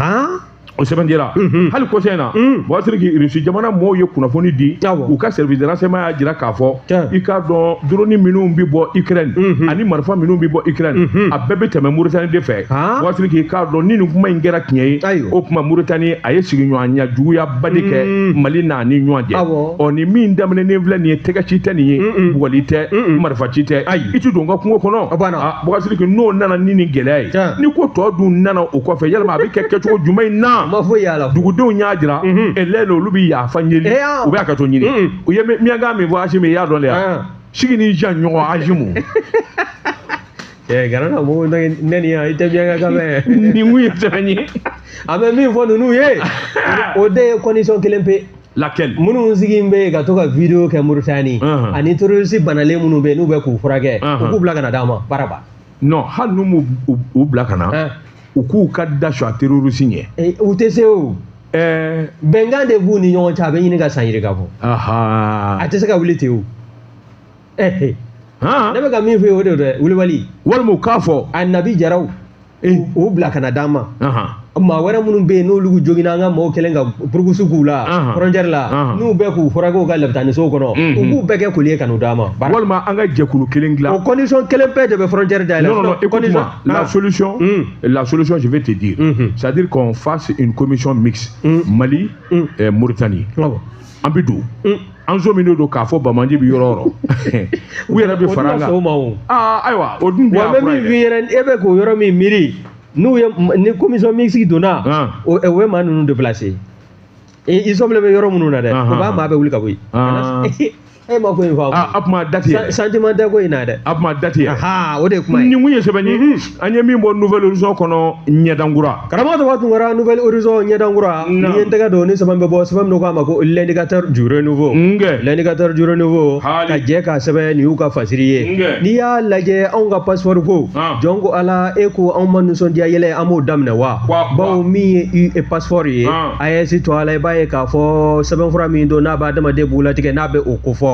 o sɛbɛntiyara mhm. hali kɔsa in na mhm. boubacar sidiki irisi jamana mɔɔw ye kunnafoni di u ka service de renseignement y'a jira k'a fɔ i k'a dɔn drone minnu bɛ bɔ ukraine mhm. ani marifa minnu bɛ bɔ ukraine a bɛɛ bɛ tɛmɛ mauritanie de fɛ boubacar sidiki k'a dɔn ni nin kuma in kɛra tiɲɛ ye o tuma mauritanie a ye sigiɲɔgɔnya juguya ba de kɛ mm. mali n'a ni ɲɔgɔn cɛ ɔ nin min daminɛnen filɛ nin ye tɛgɛ ci tɛ nin ye bugɔli tɛ marifa ci tɛ ayi i tɛ don n ka kungo kɔnɔ boubacar sidiki n'o nana ni nin gɛlɛya ye ni ko tɔ dun nana o kɔfɛ yalima a bɛ kɛ kɛcogo jumɛn na dugudenw y'a jira ɛlɛn olu bɛ yafa deli u bɛ hakɛto ɲini u ye miyankan min fɔ asimi i y'a dɔn de ya sigi ni jan ɲɔgɔn azimu Eh, gana na mo na ne ni i tɛ miyankakan mɛn. Ni mu ye tani. A bɛ min fɔ ninnu ye. O de ye condition kelen pe. Laquelle? Minnu sigi bɛ ka to ka video kɛ Mauritanie uh-huh. ani terroriste banalen minnu bɛ n'u bɛ k'u furakɛ u uh-huh. k'u bila ka na d'an ma baraba. Non hali n'u m'u u bila ka na u k'u ka da su a terroriste ɲɛ. Eh, u tɛ se o. Eh. Bɛnkan de b'u ni ɲɔgɔn cɛ a bɛ ɲini ka san yirika bɔ. A tɛ se ka wuli ten o. ɛɛ hɔn ne bɛ ka min fɔ o de don dɛ kulibali walima u k'a fɔ a nabi jaraw u bila ka na d'an ma maa wɛrɛ minnu bɛ yen n'olu joginna an ka maaw kɛlen ka burukusu k'u la fɔrɔncɛri la n'u bɛ k'u furakɛ u ka lapitanisow kɔnɔ u b'u bɛɛ kɛ koli ye ka n'u d'an ma walima an ka jɛkulu kelen dilan o kɔndisɔn kelen pe de bɛ fɔrɔncɛri da yɛlɛ non non écoute moi la solution la solution je vais te dire c'est à dire qu'on fasse une commission mixte Mali Mauritanie an bɛ don an sɔminen don k'a fɔ banbaanci bɛ yɔrɔ o yɔrɔ u yɛrɛ bɛ fara an kan ayiwa o dun bɛ min e bɛ k'o yɔrɔ min miiri n'o ye ni komisɔn mixte donna o ye maa ninnu déplacer i sɔminen bɛ yɔrɔ minnu na dɛ u b'o maa bɛɛ wuli ka bɔ yen e ma ko in faamu a kuma dati sentiment tɛ ko in na dɛ a kuma dati o de kuma nin kun ye sɛbɛn ye an ye min bɔ nouvel horizon kɔnɔ ɲɛdankura karamɔgɔ tɔgɔ tun kɛra nouvel horizon ɲɛdankura n'i ye n tɛgɛ don ni sɛbɛn bɛ bɔ sɛbɛn min k'a ma ko l'indicateur du renouveau nkɛ l'indicateur du renouveau ka jɛ k'a sɛbɛn nin y'u ka fasiri ye n'i y'a lajɛ anw ka passeport ko jɔn ko ala e ko anw ma nisɔndiya yala an b'o daminɛ wa bawo min ye e passeport ye aes tɔgɔ la i b'a ye k'a fɔ sɛbɛnfura min don n'a bɛ hadamaden bugunnatigɛ n'a bɛ o kofɔ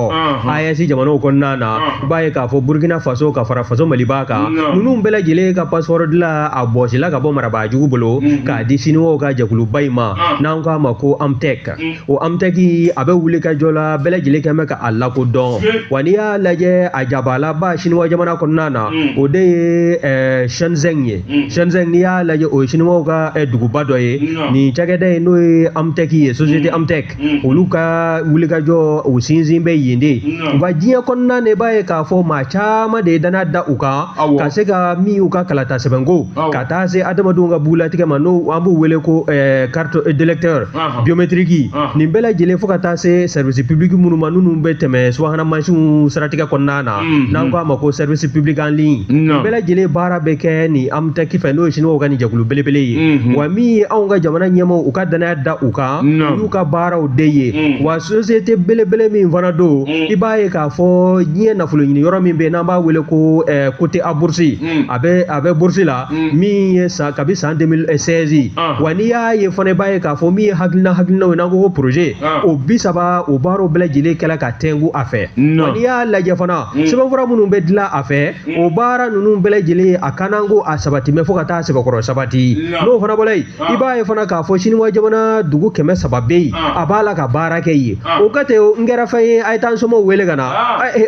aes jamanaw kɔnɔna na i b'a ye k'a fɔ burkina faso ka fara faso maliba kan ninnu bɛɛ lajɛlen ka passeport dilan a bɔsila ka bɔ marabaajugu bolo mhm. k'a di siniwaw ka jɛkuluba in ma ah. n'an k'a ma ko emptech mhm. o emptech a bɛ wuli ka jɔ la bɛɛ lajɛlen kɛmɛ ka a lakodɔn wa n'i y'a lajɛ a jabalaba siniwa jamana kɔnɔna na mhm. o de ye eh, shenzhen ye shenzhen n'i y'a lajɛ o ye siniwaw ka eh, duguba dɔ ye nin cakɛda ye n'o ye emptech ye société emptech Mm. olu ka wulikajɔ u sinsin bɛ yen de wa diɲɛ kɔnɔna na i b'a ye k'a fɔ maa caman de ye danaya da u kan ka se k'a minɛ u ka kalata sɛbɛnko ka taa se adamadenw ka bugulatigɛ ma n'o an b'u wele ko carte eh, d'électeur biométrique nin bɛɛ lajɛlen fo ka taa se service public minnu ma n'u bɛ tɛmɛ subahana mansinw siratigɛ kɔnɔna na mm-hmm. n'an k'a ma ko service public en ligne nin bɛɛ lajɛlen baara bɛ kɛ ni Emptech fɛ n'o ye siniwaw ka nin jɛkulu belebele ye mm-hmm. wa min ye anw ka jamana ɲɛmaaw u ka danaya da u kan y'u ka baaraw de ye mm. wa société belebele min fana don mm. i b'a ye k'a fɔ diɲɛ nafolo ɲini yɔrɔ min bɛ yen n'an b'a wele ko eh, coté à bourse mm. a bɛ a bɛ bourse la min ye kabi san 2016 ah. wa n'i y'a ye fana i b'a ye k'a fɔ min ye hakilina hakilinaw ye n'an ko ko projet ah. o bi saba o baaraw bɛɛ lajɛlen kɛla ka tɛngu a fɛ wa n'i y'a lajɛ fana sɛbɛnfura minnu bɛ dilan a fɛ o baara ninnu bɛɛ lajɛlen a kanako a sabati mɛ fo ka taa sɛbɛkɔrɔ sabati n'o fana bɔra yen i b'a ye fana k'a fɔ siniwa jamana dugu kɛmɛ saba bɛ yen a b'a la ka baara kɛ yen o kan tɛ n kɛra fɛn ye a ye taa n somaw wele ka na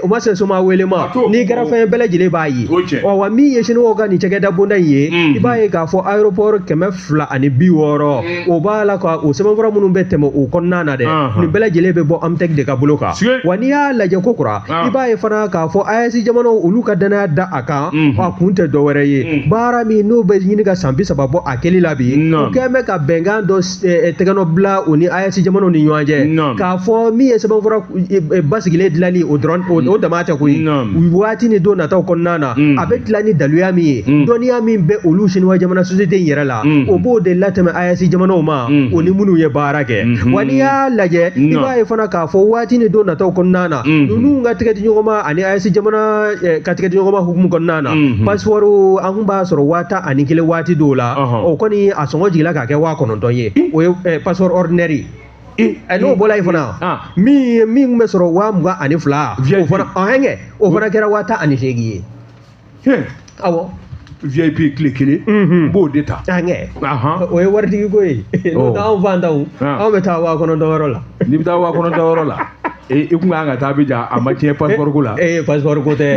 o ma se n somaw wele ma n'i kɛra fɛn ye bɛɛ lajɛlen b'a ye ɔ wa min ye siniwaw ka nin cakɛda bonda in ye i b'a ye k'a fɔ aéroport kɛmɛ fila ani bi wɔɔrɔ o b'a la ka o sɛbɛnfura minnu bɛ tɛmɛ o kɔnɔna na dɛ nin bɛɛ lajɛlen bɛ bɔ Emptech de ka bolo kan wa n'i y'a lajɛ ko kura i b'a ye fana k'a fɔ AES jamanaw olu ka danaya da a kan a kun tɛ dɔ wɛrɛ ye baara min n'o bɛ ɲini ka san bi saba bɔ a kɛli la bi u kɛn bɛ ka bɛnkan dɔ tɛgɛnɔ bila u ni AES jamanaw ni ɲɔgɔn cɛ k'a fɔ min ye sɛbɛnfura basigilen dilanni o dɔrɔn o dama tɛ koyi waati ni don nataw kɔnɔna na a bɛ dilan ni daluya min ye dɔnniya min bɛ olu siniwa jamana société in yɛrɛ la o b'o de latɛmɛ AES jamanaw ma o ni minnu ye baara kɛ wa n'i y'a lajɛ i b'a ye fana k'a fɔ waati ni don nataw kɔnɔna na ninnu ka tɛgɛ di ɲɔgɔn ma ani AES jamana ka tɛgɛ di ɲɔgɔn ma hukumu kɔnɔna na mhm. passeport an kun b'a sɔrɔ waa tan ani kelen waati dɔw la o kɔni a sɔngɔ jigila k'a kɛ waa kɔnɔntɔn ye o ye eh, passeport ordinaire ɛ n'o bɔla yen fana ah. min ye min tun bɛ sɔrɔ waa mugan ani fila o fana ɔhɛnkɛ o fana kɛra waa tan ani seegin ye awɔ VIP tile kelen mhm. n b'o de ta o ye waritigi ko ye n'o oh. tɛ anw faantanw ah. anw bɛ taa waa kɔnɔntɔn yɔrɔ la n'i bɛ taa waa kɔnɔntɔn yɔrɔ la i kun kan ka taa Abijan a ma tiɲɛ passeport ko la. Ee passeport ko tɛ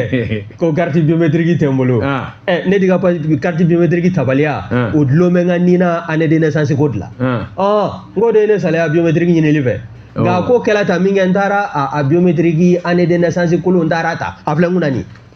ko carte biométrique tɛ n bolo. Ɛ ne de ka carte biométrique tabaliya o dulon bɛ n ka nin na année de naissance ko de la. Ɔ n k'o de ye ne salaya biométrique ɲinili fɛ. Nka ko kɛra tan min kɛ n taara a biométrique année de naissance kolon n taara a ta a filɛ n kunna nin ye.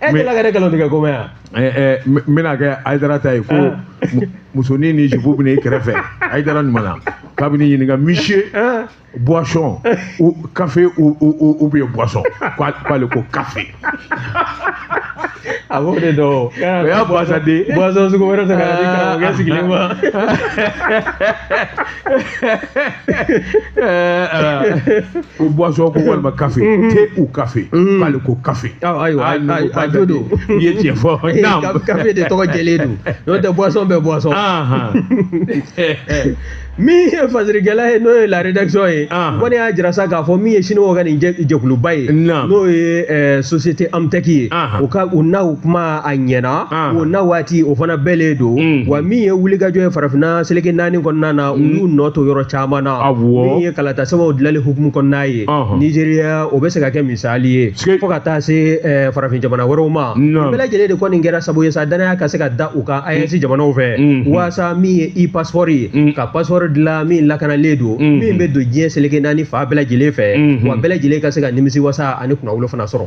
e eh, delila ka ne kɛlɛ tigɛ ko mɛn yan eh, eh, n bɛna kɛ Ayidara ta ye ko ah. musonin ni jupu bɛ ne kɛrɛfɛ Ayidara ɲuman na k'a bɛ ne ɲininka monsieur ah. boisson ou café ou ou ou bien boisson k'ale ko café a b'o de dɔn o y'a boisson de boisson sugu wɛrɛ ta ka n'a di karamɔgɔkɛ sigilen ma ko boisson ko walima kafe thé ou café k'ale ko kafe ayiwa a jo don i ye tiɲɛ fɔ kafe de tɔgɔ jɛlen don n'o tɛ boisson bɛɛ boisson min ye fasirikɛla ye n'o ye la rédaction ye kɔni y'a jira sa k'a fɔ min ye siniwaw ka nin jɛkuluba ye n'o ye société Emptech ye u ka u n'aw kuma a ɲɛna o na waati o fana bɛɛ le don wa min ye wulikajɔ ye farafinna seleke naani kɔnɔna na u y'u nɔ to yɔrɔ caman na min ye kalata sɛbɛnw dilanni hukumu kɔnɔna ye nizeriya o bɛ se ka kɛ misali ye fo ka taa se farafin jamana wɛrɛw ma bɛɛ lajɛlen de kɔni kɛra sabu ye sa danaya ka se ka da u kan AES jamanaw fɛ waasa min ye e-pasipɔri ye ka pasipɔri dilan min lakanalen don min bɛ don diɲɛ seleke naani fan bɛɛ lajɛlen fɛ wa bɛɛ lajɛlen ka se ka nimisi wasa ani kunnawolo fana sɔrɔ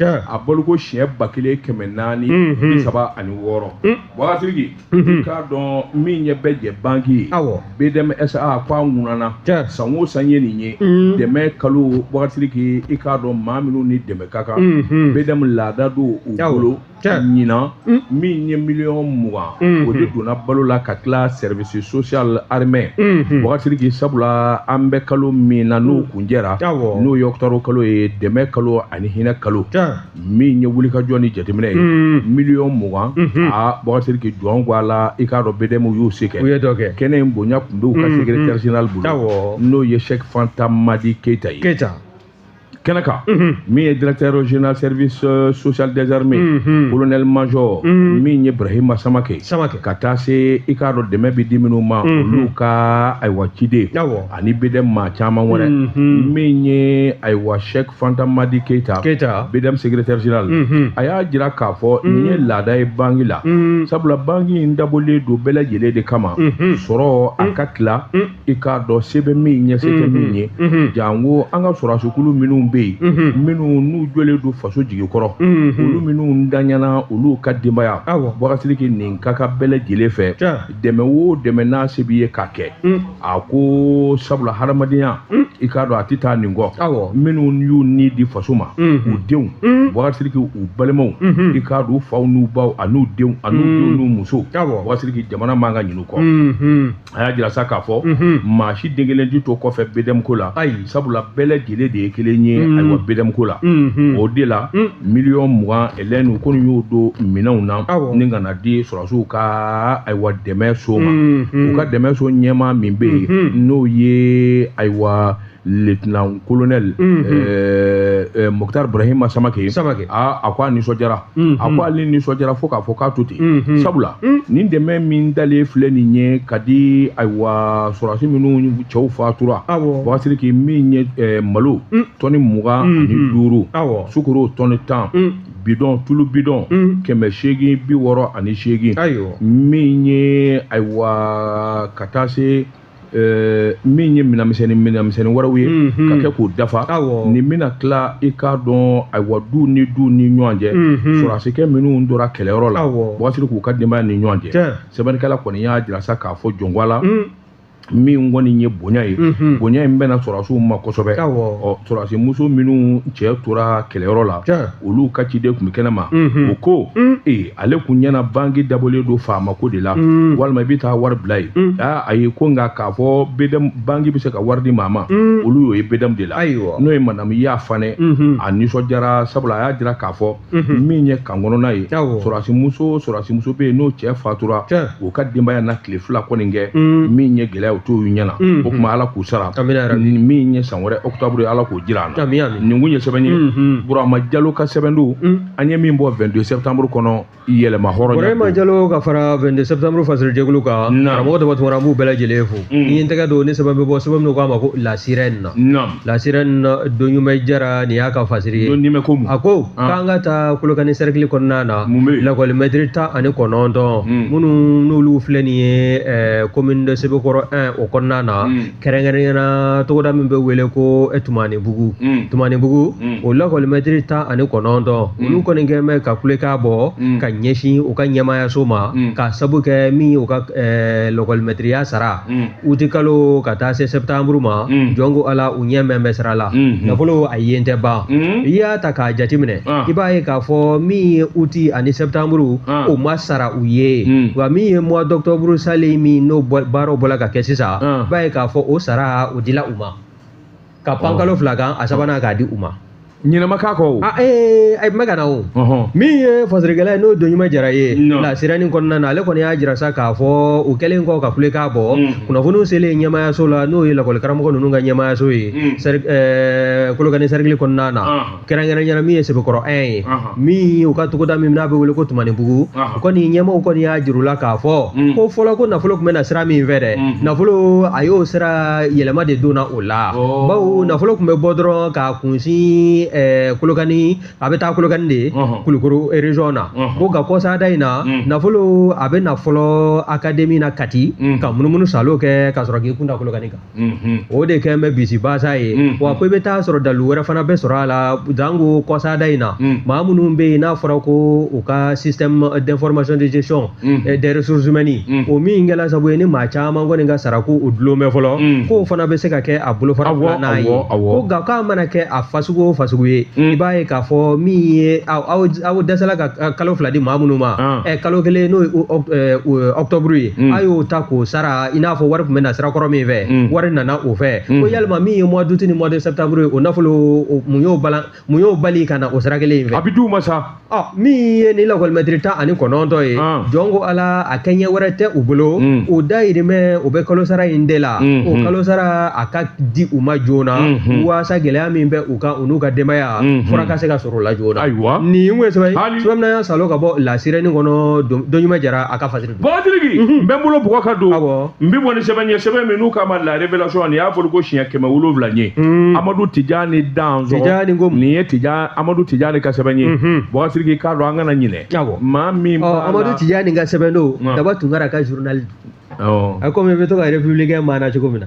a bolo ko siɲɛ ba kelen kɛmɛ naani bi saba ani wɔɔrɔ Bagasiriki i k'a dɔn min ye bɛɛ jɛ banki ye BDM SA k'a ŋuniya san o san ye nin ye dɛmɛ kalo Bagasiriki i k'a dɔn maa minnu ni dɛmɛ ka kan BDM laada don u bolo ɲinan mm. min ye miliyɔn mugan mm-hmm. o de donna balo la ka tila service social armée mm-hmm. Bagasiriki sabula an bɛ kalo min na n'o mm. kuncɛra n'o ye ɔkutɔburu kalo ye dɛmɛ kalo ani hinɛ kalo min ye wulikajɔ ni jateminɛ ye mm. miliyɔn mugan mm-hmm. a Bagasiriki jɔn ko Ala i k'a dɔn BDM y'u se kɛ kɛnɛ in bonya tun bɛ u ka secrétaire général bolo n'o ye cheick fanta madi keyita ye kɛnɛ kan min ye directeur général service euh, social des armées colonel major min ye brahima samake Samake. ka taa se i k'a dɔn dɛmɛ bɛ di minnu ma olu ka ayiwa ciden Awɔ. ani BDM maa caman wɛrɛ Mhm. min ye ayiwa cheick fanta madi keyita Keyita. BDM secrétaire général Mhm. a y'a jira k'a fɔ nin ye laada ye banki la sabula banki in dabɔlen don bɛɛ lajɛlen de kama sɔrɔ a ka tila i k'a dɔn se bɛ min ye se tɛ mhm. min ye mhm. janko an ka sɔrɔdasokulu minnu bɛ yen mhm. minnu n'u jɔlen don faso jigi kɔrɔ olu minnu danyana olu ka denbaya Bagasiriki nin ka kan bɛɛ lajɛlen fɛ dɛmɛ o dɛmɛ n'a se b'i ye k'a kɛ a ko sabula hadamadenya i k'a dɔn a tɛ taa nin kɔ minnu y'u ni di faso ma u denw Bagasiriki u balimaw i k'a dɔn u faw n'u baw an'u denw an'u denw n'u musow Bagasiriki jamana man ka ɲin'u kɔ a y'a jira sa k'a fɔ maa si den kelen tɛ to kɔfɛ BDM ko la ayi sabula bɛɛ lajɛlen de ye kelen ye ayiwa BDM ko la o de la miliyɔn mugan elɛnu kɔni y'o don minɛnw na nin ka na di sɔrɔdasiw ka ayiwa dɛmɛ so ma u ka dɛmɛ so ɲɛmaa min bɛ yen n'o ye ayiwa lieutenant colonel mm -hmm. euh, euh, Mokhtar Brahima Samake, Samake. A, a ko a nisɔndiyara mm -hmm. a ko ale nisɔndiyara fo k'a fɔ k'a to ten mm -hmm. sabula mm -hmm. nin dɛmɛ min dalen filɛ nin ye ka di ayiwa sɔrɔdasi minnu cɛw fatura Bagasiriki min ye euh, malo mm -hmm. tɔni mugan mm -hmm. ani mhm. duuru sukoro tɔni tan mm -hmm. bidɔn tulu bidɔn mm -hmm. kɛmɛ seegin bi wɔɔrɔ ani seegin min ye ayiwa ka taa se Eh, min ye minɛnmisɛnnin minɛnmisɛnnin wɛrɛw ye mhm. ka kɛ k'o dafa nin bɛna tila i k'a dɔn ayiwa du ni du ni ɲɔgɔn cɛ mhm. sɔrɔdasikɛ minnu tora kɛlɛyɔrɔ la Bagasiriki k'u ka denbaya ni ɲɔgɔn cɛ sɛbɛnnikɛla kɔni y'a jira sa k'a fɔ jɔn ko ala mm. min kɔni ye bonya ye mhm. bonya in bɛnna sɔrɔdasiw ma kosɛbɛ ɔ sɔrɔdasi muso minnu cɛ tora kɛlɛyɔrɔ la olu ka ciden tun bɛ kɛnɛ ma u ko mm. ee ale kun ɲɛna banki dabɔlen don faama ko de la mm. walima i bɛ taa wari bila yen mm. a ye ko nka k'a fɔ BDM banki bɛ se ka wari di maa ma mm. olu y'o ye BDM de la n'o ye madamu Ya Fanɛ mm-hmm. a nisɔndiyara sabula a y'a jira k'a fɔ mm-hmm. min ye camp kɔnɔna ye sɔrɔdasimuso sɔrɔdasimuso bɛ yen n'o cɛ fatura o ka denbaya na tile fila kɔni kɛ min ye gɛlɛya o t'o ɲɛna mm-hmm. o tuma ala k'u sara min ye san wɛrɛ octobre ala k'o jira an na nin kun ye sɛbɛn ye burama jalo ka sɛbɛn don an ye min bɔ 22 septembre kɔnɔ yɛlɛma hɔrɔn Burama Jalo ka fara 22 septembre fasirijɛkulu kan karamɔgɔ dama tuma an b'u bɛɛ lajɛlen fo mm. ni ye n tɛgɛ don ni sɛbɛn bɛ bɔ sɛbɛn min k'a ma ko la sirène la sirène Donɲuman Jara nin y'a ka fasiri ye a ko ah. k'an ka taa kolokani cercle kɔnɔna na lakɔli mɛtiri tan ani kɔnɔntɔn mm. minnu n'olu filɛ nin ye eh, commune de Sebekɔrɔ 1 o kɔnɔna na mm. kɛrɛnkɛrɛnya na togoda min bɛ wele ko tumanibugu tumanibugu o lakɔlimɛtiri tan ani kɔnɔntɔn olu kɔni kɛ bɛ ka kulekan bɔ ka ɲɛsin u ka ɲɛmaayaso ma ka sabu kɛ min ye u ka lakɔlimɛtiriya sara uti kalo ka taa se sɛtanburu ma jɔn ko ala u ɲɛ mɛn bɛ sira la nafolo a yen tɛ ban i y'a ta k'a jateminɛ i b'a ye k'a fɔ min ye uti ani sɛtanburu o ma sara u ye wa min ye mois d'octobre salen min n'o baaraw bɔra ka kɛ sisan i b'a ye k'a fɔ o sara o dila u ma ka pan kalo fila kan a sabanan k'a di u ma ɲinɛ ma k'a kɔ o a ee a man kan o min ye fasirikɛla ye n'o Donɲuman Jara ye la sirène kɔnɔna na ale kɔni y'a jira sa k'a fɔ u kɛlen kɔ ka kulekan bɔ kunnafoniw selen ɲɛmaayaso la n'o ye lakɔlikaramɔgɔ ninnu ka ɲɛmaayaso ye kolokani cercle kɔnɔna na kɛrɛnkɛrɛn yɛrɛ min ye sɛbɛkɔrɔ 1 ye min u ka togoda min n'a bɛ wele ko tumanibugu u kɔni ɲɛmɔgɔw kɔni y'a jira u la k'a fɔ ko fɔlɔ ko nafolo tun bɛ na sira min fɛ dɛ nafolo a y'o sira yɛlɛma de donna o la bawo nafolo tun bɛ bɔ dɔrɔn k'a kunsin kolokani a bɛ taa kolokani de kulukoro region na ko nka kɔsada in na nafolo a bɛ na fɔlɔ akademi na kati ka munumunu salo kɛ ka sɔrɔ k'i kun da kolokani kan o de kɛlen bɛ bisibasa ye wa ko i bɛ taa sɔrɔ dalu wɛrɛ fana bɛ sɔrɔ a la janko kɔsada in na maa minnu bɛ yen n'a fɔra ko u ka système d'information de gestion des ressources humaines o min kɛra sabu ye ni maa caman kɔni ka sara ko o dulon bɛ fɔlɔ k'o fana bɛ se ka kɛ a bolofara filanan ye ko nka k'a mana kɛ a fasugu o fasugu ye i b'a ye k'a fɔ min ye aw dɛsɛla ka kalo fila di maa minnu ma kalo kelen n'o ye octobre ye a y'o ta k'o sara i n'a fɔ wari tun bɛ na sirakɔrɔ min fɛ mm. wari nana o fɛ mm. ko yalima min ye mois d'août ni mois de septembre ye o nafolo mun y'o balan mun y'o bali ka na o sira kelen in fɛ a bɛ d'u ma sa ɔ min ye nin lakɔlimɛtiri tan ani kɔnɔntɔn ye ah. jɔn ko ala a kɛɲɛ wɛrɛ tɛ u bolo mm. o dayirimɛ o bɛ kalo sara in de la mm-hmm. o kalo sara a ka di u ma joona mm-hmm. waasa gɛlɛya min bɛ u kan u n'u ka denbaya mm-hmm. fura ka se ka sɔrɔ o la joona ayiwa nin tun ye sɛbɛn sɛbɛn min ne y'a salo ka bɔ la sirène kɔnɔ dɔnɲuman jara a ka fasiri bɔgɔtiriki n bɛ n bolo bɔgɔ ka don n bɛ bɔ ni sɛbɛn ye sɛbɛn min n'u k'a ma la révélation nin y'a bɔliko siɲɛ kɛmɛ wolonwula ye amadu tijani dansɔgɔ nin ye amadu tijani ka sɛbɛn ye bɔgɔtiriki k'a dɔn an kana ɲinɛ maa min amadu tijani ka sɛbɛn don daba tunkara ka journal a komi i bɛ to ka républicain maana cogo min na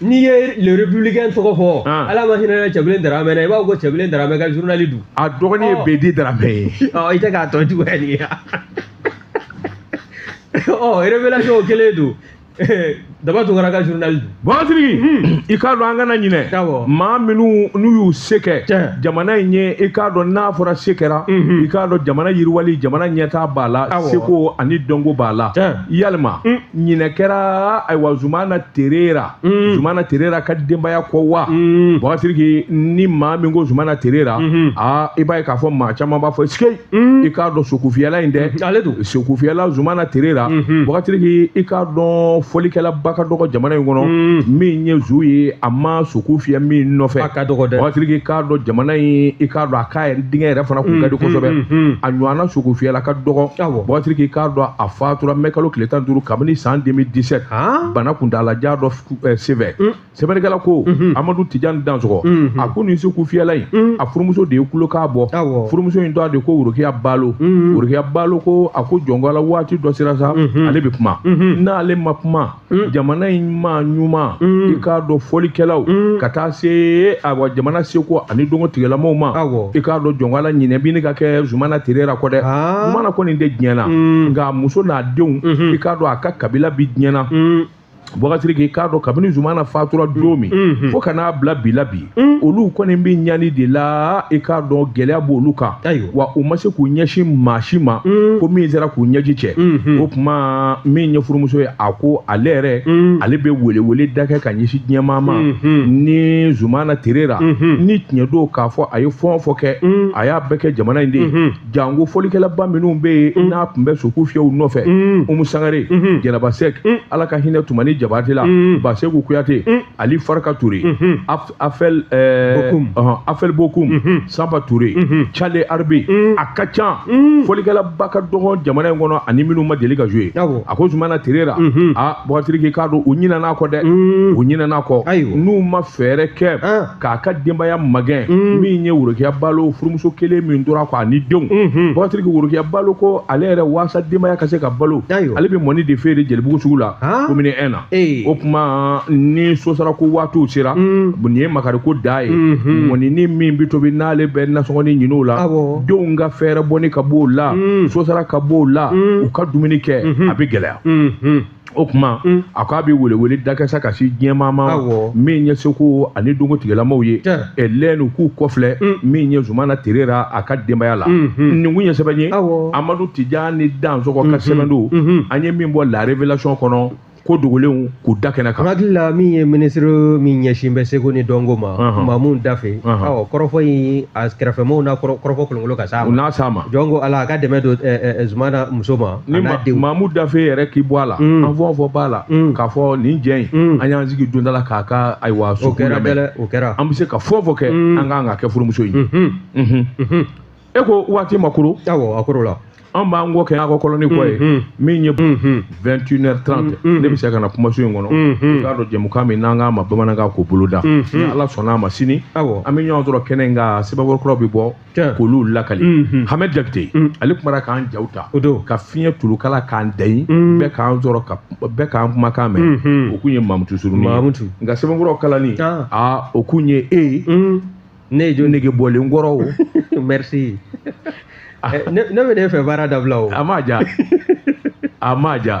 n'i ye le républicain tɔgɔ fɔ ah. ala ma hinɛ cɛbilen daramɛ na i b'a fɔ ko cɛbilen daramɛ ka journal don a dɔgɔnin ye oh. bedi daramɛ ye oh, i tɛ k'a tɔ juguya nin ye ɔ révélation kelen don daba tunkara ka journal don bagasiriki hmm. i k'a dɔn an kana ɲinɛ maa minnu n'u y'u se kɛ jamana in ye i k'a dɔn n'a fɔra se kɛra hmm. i k'a dɔn jamana yiriwali jamana ɲɛtaa b'a la seko ani dɔnko b'a la yalima hmm. ɲinɛ kɛra ayiwa zumana terera mm. zumana terera ka denbaya kɔ wa mm. bagasiriki ni maa min ko zumana terera mm -hmm. a i b'a ye k'a fɔ maa caman b'a fɔ sikei mm. i k'a dɔn sokufiyɛla in dɛ mm-hmm. ale don sokufiyɛla zumana terera mm -hmm. bagasiriki i k'a dɔn fɔlikɛlaba ka dɔgɔ jamana in kɔnɔ mm. min ye zu ye a ma soku fiyɛ min nɔfɛ a ka dɔgɔ dɛ bagasiriki k'a dɔn jamana in i k'a dɔn a taa yɛrɛ denkɛ yɛrɛ fana kun ka di kosɛbɛ a ɲɔgɔnna sokufiyɛla ka dɔgɔ bɔgatiriki k'a dɔn a fatura mɛ kalo tile tan duuru kabini san deux mille dix-sept bana kuntaalajan dɔ sɛbɛn sɛbɛnnikɛla ko amadu tijan dansɔgɔ a ko nin sokufiyɛla in a furumuso de ye kulo k'a bɔ furumuso in tɔgɔ de ko worokiya balo worokiya balo ko a ko jɔn ko ala waati dɔ sera sa ale bɛ kuma n'ale ma kuma Mm. jamana in maa ɲuman mm. i k'a dɔn fɔlikɛlaw mm. ka taa se awa jamana seko ani dɔnko tigilamaw ma i k'a dɔn jɔn ko ala ɲinɛ bɛ ɲini ka kɛ zumana terera kɔ dɛ ah. zumana kɔni tɛ diɲɛ na nka muso n'a denw mm-hmm. i k'a dɔn a ka kabila bɛ diɲɛ na bɔgasiriki k'a dɔn kabini zumana fatura don min mm-hmm. fo ka n'a bila bi la bi Mm. olu kɔni bɛ ɲani de la i k'a dɔn gɛlɛya b'olu kan wa u ma se k'u ɲɛsin maa si ma mm. ko min sera k'u ɲɛji cɛ mm-hmm. o tuma min ye furumuso ye a ko ale yɛrɛ mm. ale bɛ welewele da kɛ ka ɲɛsin diɲɛmaa ma mm-hmm. ni zumana tereta mm-hmm. ni tiɲɛ don k'a fɔ a ye fɛn o fɛn kɛ a y'a bɛɛ kɛ jamana in de ye janko fɔlikɛlaba minnu bɛ yen n'a tun bɛ soku fiyɛ u nɔfɛ umu sangare jɛnɛba sɛk ala ka hinɛ tumani jabate la baseku kuyate Ali Farka Ture Afɛl Afɛl Bokum Sanba Ture Cale Arbi a ka ca fɔlikɛlaba ka dɔgɔ jamana in kɔnɔ ani minnu ma deli ka jouer a ko Zumana Tereta aa Bukari Siriki k'a dɔn u ɲinɛna a kɔ dɛ u ɲinɛna a kɔ n'u ma fɛɛrɛ kɛ k'a ka denbaya magɛn min ye Worokiya Balo furumuso kelen min tora a kɔ ani denw Bukari Siriki Worokiya Balo ko ale yɛrɛ waasa denbaya ka se ka balo ale bɛ mɔni de feere Jelibugu sugu la commune I na. Ee. O tuma ni so sara ko waatiw sera mm. nin ye makariko dan ye mm-hmm. mɔninin min bɛ tobi n'ale bɛ nasɔngɔnin ɲinin o la denw ka fɛɛrɛbɔnin ka b'o la mm. so sara ka b'o la mm. u ka dumuni kɛ mm-hmm. a bɛ gɛlɛya mm-hmm. o tuma a ko a bɛ welewele da kɛ sa ka se diɲɛmaa ma min ye seko ani dɔnko tigilamaw ye ninnu k'u kɔfilɛ min ye zumana tereta a ka denbaya la nin kun ye sɛbɛn ye amadu tijani dansɔgɔ ka sɛbɛn don an ye min bɔ la révélation kɔnɔ ko dogolenw k'u da kɛnɛ kan hakili la min ye minisiri min ɲɛsin bɛ seko ni dɔnko ma mamu dafe ɔ kɔrɔfɔ in a kɛrɛfɛmɔgɔw na kɔrɔfɔ kolonkolon ka s'a ma u n'a s'a ma jɔn ko ala a ka dɛmɛ don zumana muso ma ni mamu dafe yɛrɛ k'i bɔ a la mm. an fɛn o fɛn b'a la mm. k'a fɔ nin jɛ in mm. an y'an sigi don dɔ la k'a ka ayiwa soku lamɛn o kɛra an bɛ se ka fɛn o fɛn kɛ an kan k'a kɛ furumuso ye mm-hmm. Mm-hmm. Mm-hmm. e ko waati ma koro awɔ a korola an b'an kɔ kɛ an ka kɔlɔni kɔ ye min ye vingt une heure trente ne bɛ se ka na kumaso in kɔnɔ i k'a dɔn jɛmukan min n'an k'a ma bamanankan ko boloda ni ala sɔnna a ma sini an bɛ ɲɔgɔn sɔrɔ kɛnɛ in kan sɛbɛnkɔrɔ kuraw bɛ bɔ k'olu lakali hamɛd jakite ale kumara k'an jaw ta ka fiɲɛ tulukala k'an dayi bɛɛ k'an sɔrɔ bɛɛ k'an kumakan mɛn o kun ye mamutu surunin ka sɛbɛnkɔrɔ kalani aa o kun ye e ye ne ye jo nege bɔlen kɔrɔ o merci ne bɛ ne fɛ baara dabila o a ma ja a ma ja